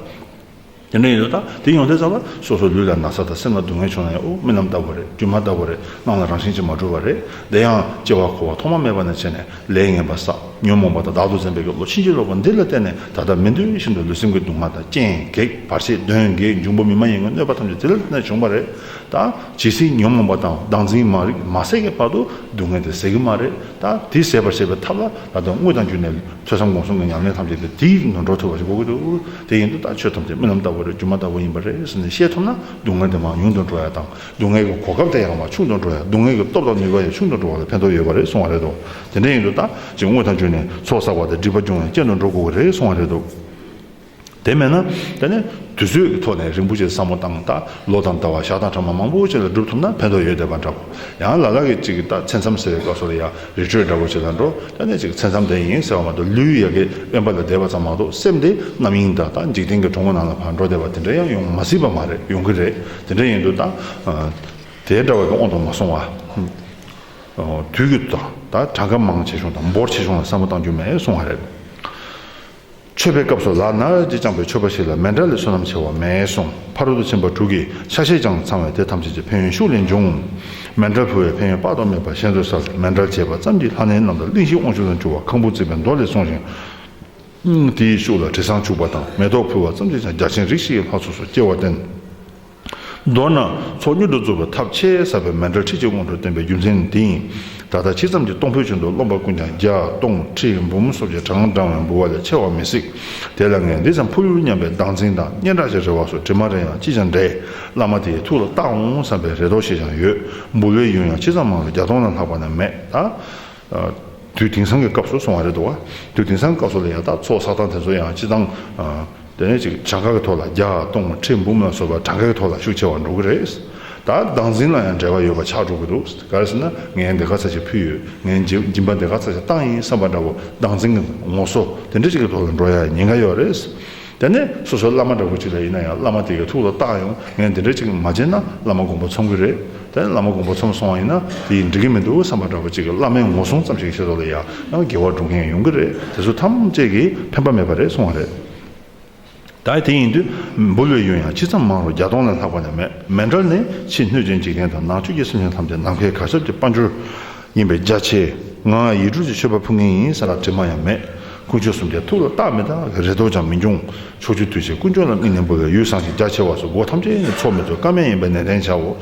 དེ་འདྲ་ཡིན་དུས་ད་དེ་ཡོང་ཐལ་ཙམ་ལ་སོ་སོའི་ལུས་ལ་ན་ཚ་དང་སེམས་ལ་སྡུག་བསྔལ་བྱུང་ན་ཡང་ཨོ་རྨི་ལམ་ལྟ་བུ་རེད་སྒྱུ་མ་ལྟ་བུ་རེད་སྣང་ལ་རང་བཞིན་གྱིས་མ་གྲོལ་བ་རེད་དེ་ཡང་སྐྱེ་བ་འཁོར་བ་ཐོག་མ་མེད་པ་ནས་བྱས་ནས་ལས་ངན་པ་བསགས་ཉོན་མོངས་པ་དང་བདག་ཏུ་འཛིན་པའི་ཀྱི་བློ་ཕྱིན་ཅི་ལོག་པ་འདི་ལ་བརྟེན་ནས་ད་ལྟ་མི་འདོད་བཞིན་དུ་ལུས་སེམས་ཀྱི་སྡུག་བསྔལ་དང་རྐྱེན་གེགས་བར་ཆད་གདོན་བགེགས་འབྱུང་པོ་མི་མ་ཡིན་གྱི་གནོད་པ་ཐམས་ཅད་དེ་ལ་བརྟེན་ནས་བྱུང་བ་རེད་ད། ཇི་སྲིད་ཉོན་མོངས་པ་དང་བདག་འཛིན་མ་རིག་མ་ཟད་ཀྱི་བར་དུ་སྡུག་བསྔལ་དེ་ཟད་ཀྱི་མ་རེད་ད་དེ་ཟད་པར་བྱེད་པའི་ཐབས་ལ་ད་དོན་དངོས་དང་བརྒྱུད་ནས་ཐོས་བསམ་སྒོམ་གསུམ་གྱི་ཉམས་ལེན་ཐམས་ཅད་དེ་དེའི་ནོར་འཕྲོ་ཐོས་པ་ཞིག་གོ་གི་འདུག། དེ་ཡིན་དུ་ལྟ་ཆོས་ཐམས་ཅད་རྨི་ལམ་ལྟ་བུ་རེད་སྒྱུ་མ་ལྟ་བུ་ཡིན་པ་རེད་ཟེར་ནས་ཤེས་ཐུབ་ན་སྡུག་བསྔལ་དེ་མང་ཉུང་དུ་འགྲོ་ཡག་དང་སྡུག་བསྔལ་གྱི་གོ་སྐབས་དེ་ཡང་མང་ཆུང་དུ་འགྲོ་ཡག་སྡུག་བསྔལ་གྱི་སྟོབས་དང་ནུས་པ་ཡང་ཆུང་དུ་འགྲོ་བ་ལ་ཕན་ཐོགས་ཡོད་པ་རེད་གསུང་བ་རེད་དོ། དེ་འདྲ་ཡིན་དུ་ལྟ་ཅིང་དངོས་དང་བརྗོད་ནས་ཚོགས་བསགས་པ་དང་སྒྲིབ་པ་སྦྱོང་ཡང་སྐྱེ་འགྲོ་འགྲོ་དགོས་པ་རེད་གསུང་བ་རེད་དོ། དེ་མེད་ན་དེ་ནི་དུས་ཚོད་ཀྱི་ཐོག་ནས་རིན་པོ་ཆེ་བསམ་བློ་བཏང་ལྟ་ལོ་དང་ཟླ་བ་ཞག་དང་གྲངས་མང་པོ་བྱས་ལ་སྒྲུབ་ཐུབ་ན་ཕན་ཐོགས་ཡོད་བསྡད་པ་འདྲ་བོ་ཡང་ལ་ལ་གི་ཅིག་གི་ལྟ་ཚེ་མཚམས་བསལ་བའི་སྐབས་སུ་ལ་ཡ། རི་ཁྲོད་འདྲ་བོ་ཆེ་དང་འགྲོ་དོན་གནད་གཅིག་གི་ཚད་མཚམས་དེ་ཡིན་ཟེར་བ་མ་གཏོགས་ལུས་ཡལ་གའི་དབེན་པ་ལ་བསྡད་པ་ཙམ་མ་གཏོགས་སེམས་དེ་རྣམ་གཡེང་དག་དང་འཇིག་རྟེན་གྱི་གྲོང་ངོ་ནང་ལ་ཕར་འགྲོ་བསྡད་པ་དེ་འདྲ་ཡང་ཡོང་མ་སྲིད་པ་མ་རེད་ཡོང་གི་རེད་དེ་འདྲ་ཡིན་དུས་དང་དེ་འདྲ་བ་དེ་ཨོང་དུ་མ་སོང་བ། དུས་ཀྱི་དང་ད་གྲངས་ཀ་མང་ཆེ་ཆུང་དང་འབོར་ཆེ་ཆུང་ལ་བསམ་བློ་བཏང་རྒྱུ་མེད་སོང་བ་རེད། མཆོད་པའི་སྐབས་སུ་ལག་ན་འོད་ཀྱིས་བཅངས་པའི་མཆོད་པ་ཞིག་ལ་མེ་འདྲ་ལས་བསོད་ནམས་ཆེ་བ་མེད་གསུངས་ཕ་རོལ་ཏུ་ཕྱིན་པ་དྲུག་གིས་ཆ་ཤས་ཀྱང་ཚང་བས་དེ་ཐམས་ཅད་ཀྱི་ཕན་ཡོན་ཤུགས་ལས་འབྱུང། མེ་འདྲར་ཕུལ་བའི་ཕན་ཡོན་དཔག་ཏུ་མེད་པ་གཞན་ཚོའི་སར་མེ་འདྲར་བྱས་པ་ཙམ་གྱིས་ལྷ་གནས་རྣམས་ལ་གླིང་བཞི་དབང་ཕྱུག་དང་བཅུ་བ་ཁང་བུ་བརྩིགས་པའི་མདོ་ལས་གསུངས་ཤིང། དེའི་ཤུགས་ལ་དྲི་བཟང་བྱུགས་པ་དང་མེ་ཏོག་ཕུལ་བ་ཙམ་གྱིས་ཀྱང་རྒྱ་ཆེན་རིགས་བཞི་ཡི་ལྷ་ཚོགས་སུ་སྐྱེ་བར་བསྟན། མདོར་ན་ཚོགས་མྱུར་དུ་རྫོགས་པའི་ཐབས་ཆེས་ཟབ་པའི་མན་ཏྲ་ཁྲིད་ཆེན་དབང་དུ་བསྟན་པའི་རྒྱུ་མཚན་ནི་འདི་ཡིན། ད་ལྟ་ཕྱི་མཚམས་ཀྱི་སྟོང་ཕོད་ཆུང་དུ་རློམ་པ་ཀུན་ཀྱང་བརྒྱ་སྟོང་ཁྲི་འབུམ་སོགས་ཀྱི་གྲངས་བགྲང་བའི་འབུལ་བ་ལས་ཆེ་བ་མི་སྲིད། དེ་ལ་ངས་འདི་ཙམ་ཕུལ་ཡོང་སྙམ་པའི་སྡང་འཛིན་དང་སྙན་གྲགས་ཀྱི་རེ་བ་སོགས་དྲི་མ་རེ་ཡང་ཅི་ཆང་འདྲེས་བླ་མ་དེའི་ཐུགས་ལ་བཏགས་འོང་བསམ་པའི་རེ་དོགས་ཤིག་ཀྱང་ཡོད། འབུལ་བའི་ཡུན་ཡང་ཅི་ཙམ་མང་ལ་བརྒྱ་སྟོང་ལ་ལྷག་པ་ན་མེད་ད། དུས་དེང་སང་གི་སྐབས་སུ་སོང་བ་རེད་འདུག་དུས་དེང་སང་གི་སྐབས་སུ་ལ་ཡང་དག་ཚོགས་བསགས་སྟངས་དེ་ཚོ་ཡང་སྤྱི་བཏང་དེ་ཅིག་བྱ་དགའ་གི་ཐོག་ལ་བརྒྱ་སྟོང་མ་ཁྲི་འབུམ་ལ་སོགས་པ་གྲངས་ཀའི་ཐོག་ལ་ཤུགས་ཆེ་བ་འགྲོ་གི་རེད། ད་བདག་འཛིན་ལ་ཡང་འབྲེལ་བ་ཡོད་པ་ཆགས་འགྲོ་གི་འདུག་གལ་སྲིད་ན་ངས་འདི་ག་ཚ་ཞིག་ཕུལ་ཡོད་ངས་སྦྱིན་པ་འདི་ག་ཚ་ཞིག་བཏང་ཡིན་བསམ་པ་འདྲ་བོ་བདག་འཛིན་གྱི་ངོ་སོ་དེ་འདྲ་ཅིག་གི་ཐོག་ལ་འགྲོ་ཡ་ཉེན་ཁ་ཡོད་རེད། དེ་ནས་སོ་སོའི་བླ་མ་འདྲ་བོ་གཅིག་ལ་ཡིན་ན་ཡང་བླ་མ་དེ་གའི་ཐུགས་ལ་བཏགས་ཡོང་ངས་འདི་འདྲ་གཅིག་མ་བྱས་ན་བླ་མ་དགོངས་པ་ཚོམ་གི་རེད་དེ་བླ་མ་དགོངས་པ་ཚོམ་སོང་བ་ཡིན་ན་དེ་ཡིས་འགྲིག་གི་མི་འདུག་བསམ་པ་འདྲ་བོ་གཅིག་བླ་མའི་ངོ་སྲུང་ཙམ་ཞིག་བྱེད་རོགས་ལ་ཡང་ཡང་དགེ་བ་འགྲུབ་མཁན་ཡོང་གི་རེད་དེ་ཚོ་ཐམས་ཅད་ཀྱིས་ཕན་པ་མེད་པ་རེད་གསུང་བ་རེད། ད་དེ་ཡིན་དུས་འབུ་ལོའི་ཡུན་ཡང་ཅི་ཙམ་མང་རུང་བརྒྱ་སྟོང་ལས་ལྷག་པ་ནས་མེད། མེ་འབྲར་ནི་ཕྱིའི་གནོད་སྐྱོན་འཇིག་རྟེན་དང་ནང་ཆོས་ཀྱི་སེམས་ཅན་ཐམས་ཅད་ནམ་མཁའི་གར་སྟབས་ཀྱི་དཔའ་འབྱོར། ཡིན་པས་རྒྱ་ཆེ། ང་ཡིད་སྤྲུལ་གྱི་མཆོད་པ་ཕུལ་ངེས་ཡིན་ཟེར་ལ་དྲི་མ་ཡང་མེད། དཀོན་མཆོག་གསུམ་ཀའི་ཐུགས་ལ་རྟག་མི་རྟག་གི་རེ་དོགས་ཀྱང་མི་འབྱུང། ཕྱོགས་བཅུ་དུས་བཞིར་དཀོན་མཆོག་ལ་དམིགས་ནས་འབུལ་བའི་ཡུལ་བཟང་ཞིང་རྒྱ་ཆེ་བ་སོགས་སྒོ་ཐམས་ཅད་ནས་ཚོགས་མི་ཚོགས་ཀ་མེད་ཡིན་པ་ནན་ཏན་བྱའོ།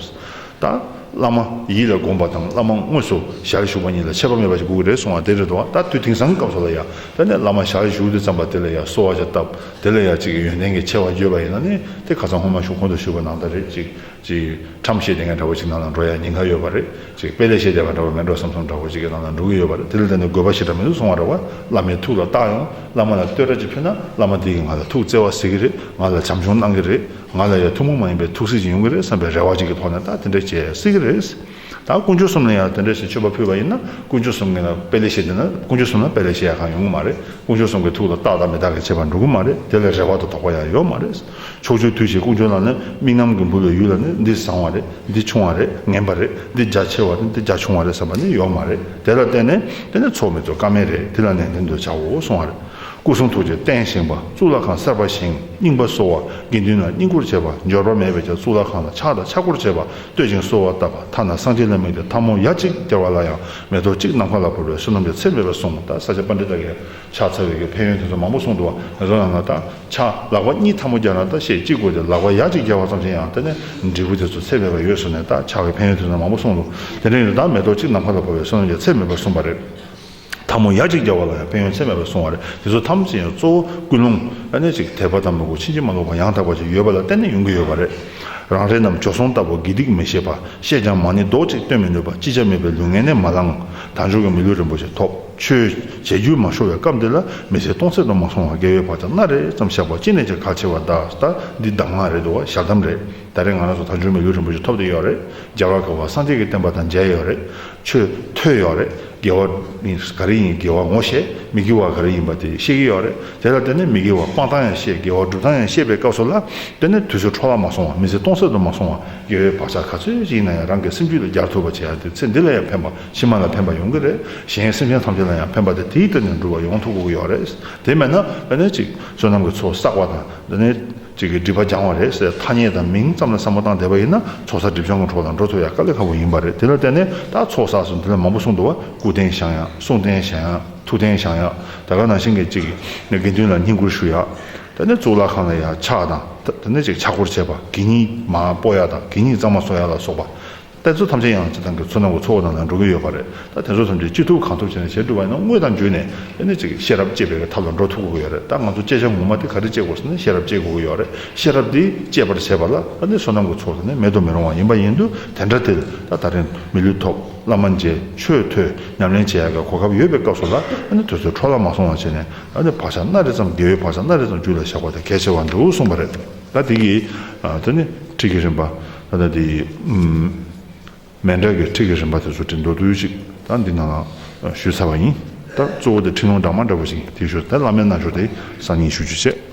ད། བླ་མ་ཡིད་ལ་དགོངས་པ་དང་བླ་མ་དངོས་སུ་ཞལ་བཞུགས་པ་གཉིས་ལ་ཆད་པ་མེད་པ་ཅིག་སྒུག་རེ་སོང་བ་དེ་རེ་དོགས་ད་དུས་དེང་སང་སྐབས་སུ་ལ་ཡ་ད་ནས་བླ་མ་ཞལ་བཞུགས་དེ་བརྩམས་པ་དེ་ལ་ཡ་གསོལ་བ་ཅིག་བཏབ་དེ་ལ་ཡ་གཅིག་གི་ཡོན་ཏན་གྱི་ཆེ་བ་བརྗོད་པ་ཡིན་ན་ནི་དེ་ཁ་ཚང་སྔོན་མ་ཞུ་གོང་དུ་ཞུས་པ་ནང་ད་རེ་གཅིག་ཁྲམ་བཤད་བསྡད་མཁན་འདྲ་བོ་ཅིག་ནང་ལ་འགྲོ་ཡ་ཉེན་ཁ་ཡོད་པ་རེད། དཔེ་ལས་བཤད་བསྡད་པ་འདྲ་བོ་མེད་འགྲོ་བསམ་སོང་འདྲ་བོ་ཅིག་གི་ནང་ལ་འགྲོ་གི་ཡོད་པ་རེད་དེ་ལ་བརྟེན་ནས་དགོས་པ་ཞིག་འདྲ་མི་འདུག་སོང་བ་རེད། བླ་མའི་ཐུགས་ལ་བཏགས་ཡོང་བླ་མ་ལ་བསྟོད་སྒྲ་ཅིག་ཕུལ་ན་བླ་མ་འདི་ཡིས་ང་ལ་ཐུགས་བརྩེ་བ་ཟེར་གི་རེད་ང་ལ་བྱམས་སྐྱོང་གནང་གི་རེད། ང་ལ་ཡང་ཐུན་མོང་མ་ཡིན་པའི་ཐུགས་གཟིགས་ཅིག་ཡོང་གི་རེད་བསམ་པའི་རེ་བ་ཅིག་གི་ཐོག་ནས་ད་དེ་འདྲ་བྱེད་སྲིད་ཀྱི་རེད། ད་དཀོན་མཆོག་གསུམ་ལ་ཡང་དེ་འདྲ་ཞིག་མཆོད་པ་ཕུལ་བ་ཡིན་ན་དཀོན་མཆོག་གསུམ་གྱིས་ལ་དཔེ་ལས་བཤད་བསྡད་ན་དཀོན་མཆོག་གསུམ་ལ་དཔེ་ལས་བཤད་ཡ་གང་ཡོང་གི་མ་རེད་དཀོན་མཆོག་གསུམ་གྱི་ཐུགས་ལ་བཏགས་དང་མི་བཏགས་ཀྱི་བྱེད་པ་འགྲོ་གི་མ་རེད་དེ་ལ་རེ་བ་དང་དོགས་པ་ཡང་ཡོད་མ་རེད། ཕྱོགས་ཆོས་འཐུས་བྱས་ཀུན་སྤྱོད་ལ་ནི་དམིགས་རྣམ་གྱི་འབུལ་བའི་ཡུལ་ལ་ནི་འདི་བཟང་བ་རེད་འདི་ཆུང་བ་རེད་ངན་པ་རེད་འདི་རྒྱ་ཆེ་བ་རེད་འདི་རྒྱ་ཆུང་བ་རེད་བསམ་པ་ནི་ཡོད་མ་རེད་དེ་ལ་བརྟེན་ནས་དེ་ནི་ཚོགས་མི་ཚོ་ཀ་མེད་རེད་དེ་ལ་ནན་ཏན་དུ་བྱའོ་གསུང་བ་རེད་སྐུ་གསུང་ཐུགས་ཀྱི་རྟེན་བཞེངས་པ་གཙུག་ལག་ཁང་གསར་པ་བཞེངས་རྙིང་པ་གསོ་བ་དགེ་འདུན་ལ་བསྙེན་བཀུར་བྱེད་པ་འབྱོར་པ་མེད་པའི་ཆ་གཙུག་ལག་ཁང་ལ་ཕྱག་དང་ཕྱག་སྐོར་བྱེད་པ་བསྟོད་ཅིང་གསོལ་བ་བཏབ་པ་ཐ་ན་གསང་ཆེན་ལ་དམིགས་ཏེ་ཐབ་མོ་ཡ་གཅིག་བསྐྱལ་བ་ལ་ཡང་མེ་ཏོག་གཅིག་ནམ་མཁའ་ལ་བོར་བའི་བསོད་ནམས་ཀྱི་ཚད་མེད་པ་གསུངས་པ་ལྟར་ས་སྐྱ་པཎྜི་ཏ་ཀའི་ཕྱག་འཚལ་བའི་ཕན་ཡོན་དེ་ཚོ་མང་པོ་གསུངས་འདུག་བ་རང་རང་ལ་ད་ཆ་ལག་པ་གཉིས་ཐལ་མོ་རྒྱག་ན་ད་ཤས་གཅིག་དགོས་ཏེ་ལག་པ་ཡ་གཅིག་རྒྱག་བ་ཙམ་ཞིག་ཡང་ད་ནས་འབྲས་བུ་དེ་ཚོ་ཚད་མེད་པ་ཡོད་གསུངས་ནས་ད་ཕྱག་གི་ཕན་ཡོན་དེ་ཚོ་མང་པོ་གསུངས་འདུག་དེ་འདྲའི་ཡོན་བདག་མེ་ཏོག་གཅིག་ནམ་མཁའ་ལ་འཕོ་བའི་བསོད་ནམས་ཀྱང་ཚད་མེད་པར་གསུངས་པ་རེད། ཐལ་མོ་ཡ་གཅིག་རྒྱག་བ་ལ་ཡང་ཕན་ཡོན་ཚད་མེད་པར་གསུངས་བ་རེད་དེ་ཚོ་ཐམས་ཅད་ཡང་གཙོ་བོ་ཀུན་སློང་ཨ་ནེ་ཅིག་དད་པ་དང་མོས་གུས་ཕྱིན་ཅི་མ་ལོག་པ་ཡང་དག་པ་ཞིག་ཡོད་པ་ལ་བརྟེན་ནས་ཡོང་གི་ཡོད་པ་རེད། རང་རེ་རྣམས་འཇོག་སོང་ལྟ་བུ་དགེ་སྡིག་མི་ཤེས་པ་ཤེས་ཀྱང་མ་ནི་རྡོག་གཅིག་སྟོན་མི་ནུས་པ་ཅི་བྱ་མེད་པའི་ལུས་ངན་ནས་མ་ལངས་ད་འཇོག་གི་མི་ལུས་རིན་པོ་ཆེ་ཐོབ། ཆོས་བྱེད་རྒྱུ་མ་ཤོར་བའི་སྐབས་འདི་ལ་མི་ཚེ་སྟོང་ཟད་དུ་མ་སོང་བར་དགེ་བའི་བག་ཆགས་སྣ་རེ་ཙམ་བཞག་པ་ཅི་ནས་ཀྱང་གལ་ཆེ་བ་གདའ། ད་འདི་གདམས་ངག་རེད་འདུག་བ་ཞག་གདམས་རེད། ད་རེས་ང་རང་ཚོ་ད་འཇུག་མི་ལུས་རིན་པོ་ཆེ་ཐོབ་འདོད་ཡོད་རེད། རྒྱལ་བ་ག་བ་སངས་རྒྱས་ཀྱི་བསྟན་པ་དང་མཇལ་ཡོད་རེད། ཆོས་ཐོས་ཡོད་རེད། དགེ་བ་ནི་ག་རེ་ཡིན་དགེ་བ་ངོ་ཤེས་མི་དགེ་བ་ག་རེ་ཡིན་པ་དེ་ཤེས་ཀྱི་ཡོད་རེད། དེ་ལ་བརྟེན་ནས་མི་དགེ་བ་སྤང་སྟངས་ཡང་ཤེས་དགེ་བ་སྒྲུབ་སྟངས་ཡང་ཤེས་པའི་སྐབས་སུ་ལ་བརྟེན་ནས་དུས་ཚོད་འཕྲོ་བརླག་མ་སོང་བ་མི་ཚེ་སྟོང་ཟད་དུ་མ་སོང་བར་དགེ་བའི་བག་ཆགས་ག་ཚོད་ཅིག་ཡིན་ན་ཡང་རང་གི་སེམས་རྒྱུད་ལ་རྒྱག་ཐུབ་པ་བྱས་ཡ་དེ་ཚེ་འདི་ལ་ཡང་ཕན་པ་ཕྱི་མ་ལ་ཕན་པ་ཡོང་གི་རེད། གཞན་སེམས་ཅན་ཐམས་ཅད་ལ་ཡང་ཕན་པ་དེ་དེའི་སྟེང་ནས་འགྲུབ་པ་ཡོང་ཐུབ་དགོས་ཀྱི་ཡོད་རེད། དེ་མེད་ན་འདི་ནས་ཅིག་བསོད་ནམས་ཀྱི་ཚོགས་བསགས་པ་དང་འདི་ནས་ཅིག་སྒྲིབ་པ་སྦྱང་བ་རེད་ཟེར་ཐ་སྙད་དང་མིང་ཙམ་ལ་བསམ་བློ་བཏང་བསྡད་པ་ཡིན་ན་ཚོགས་བསགས་སྒྲིབ་སྦྱང་གི་གྲོགས་དང་འགྲོ་ཐུབ་ཡ་དཀའ་ལས་ཁག་པོ་ཡིན་པ་རེད་དེ་ལ་བརྟེན་ནས་ད་ཚོགས་བསགས་སུ་འདི་ལ་མང་པོ་གསུངས་འདུག་བ་སྐུ་རྟེན་བཞེང་ཡག་གསུང་རྟེན་བཞེང་ཡག་ཐུགས་རྟེན་བཞེང་ཡག་ད་ག་ནང་བཞིན་གྱི་ཅིག་དགེ་འདུན་ལ་བསྙེན་བཀུར་ཞུ་ཡག་ད་ནས་གཙུག་ལག་ཁང་ལ་ཡག་ཕྱག་དང་ད་ནས་ཅིག་ཕྱག་སྐོར་བྱེད་པ་གད་སྙིགས་མ་སྤོ་ཡག་དང་གད་སྙིགས་གཙང་མ་བཟོ་ཡག་ལ་སོགས་པ། དཔེ་ཚོགས་ཐམས་ཅད་ཡང་སྤྱི་བཏང་གི་ཚོགས་ནང་གི་ཚོགས་ནང་ན་འགྲོ་གི་ཡོད་པ་རེད། ད་དེ་ཚོ་ཐམས་ཅད་ཅི་ཐུབ་གང་ཐུབ་བྱས་ནས་བྱེད་ཐུབ་པ་ཡིན་ན་དངོས་དང་བརྒྱུད་ནས་དཔེ་ནི་ཅིག་ཤེས་རབ་དཔྱད་པའི་ཐབས་ལ་འགྲོ་ཐུབ་དགོས་ཀྱི་ཡོད་རེད། ད་ང་ཚོ་དཔྱད་བྱ་ངོ་མ་དེ་ག་རེ་དཔྱད་དགོས་ཟེར་ན་ཤེས་རབ་དཔྱད་དགོས་ཀྱི་ཡོད་རེད། ཤེས་རབ་དེ་དཔྱད་པར་བྱེད་པ་ལ་ད་ནི་བསོད་ནམས་ཀྱི་ཚོགས་དེ་ནི་མེད་དུ་མི་རུང་བ་ཡིན་པ་ཡིན་དུས་དེ་འདྲ་དེ་ལ་ད་རིང་མི་ལུས་ཐོབ་བླ་མ་མཇལ་ཆོས་ཐོས་ཉམས་ལེན་བྱེད་ཡག་གི་གོ་སྐབས་ཡོད་པའི་སྐབས་སུ་ལ་ད་ནི་དུས་ཚོད་འཕྲོ་བརླག་མ་སོང་བ་བྱས་ནས་ད་ནི་བག་ཆགས་སྣ་རེ་ཙམ་དགེ་བའི་བག་ཆགས་སྣ་རེ་ཙམ་རྒྱུད་ལ་བཞག་པ་དེ་གལ་ཆེ་བར་འདུག་གསུངས་པ་རེད། ད་དེ་གིས་ད་ནི་འགྲིག་གི་རེད་འབའ། ད་ལྟ་དེ་མན་དྲག་གི་ཁྲིགས་ཀྱི་རིམ་པ་དེ་ཚོ་དེ་མདོར་བསྡུས་ཅིག་དང་འདི་ན་ཞུས་ཚར་བ་ཡིན། ད་གཙོ་བོ་དེ་ཁྲིགས་ལུང་དྲངས་མ་འདྲ་བོ་ཞིག་དེ་ཞོར་དེ་བླ་མའི་རྣལ་འབྱོར་དེ་གསར་རྙིང་ཞུ་རྒྱུ་བྱས།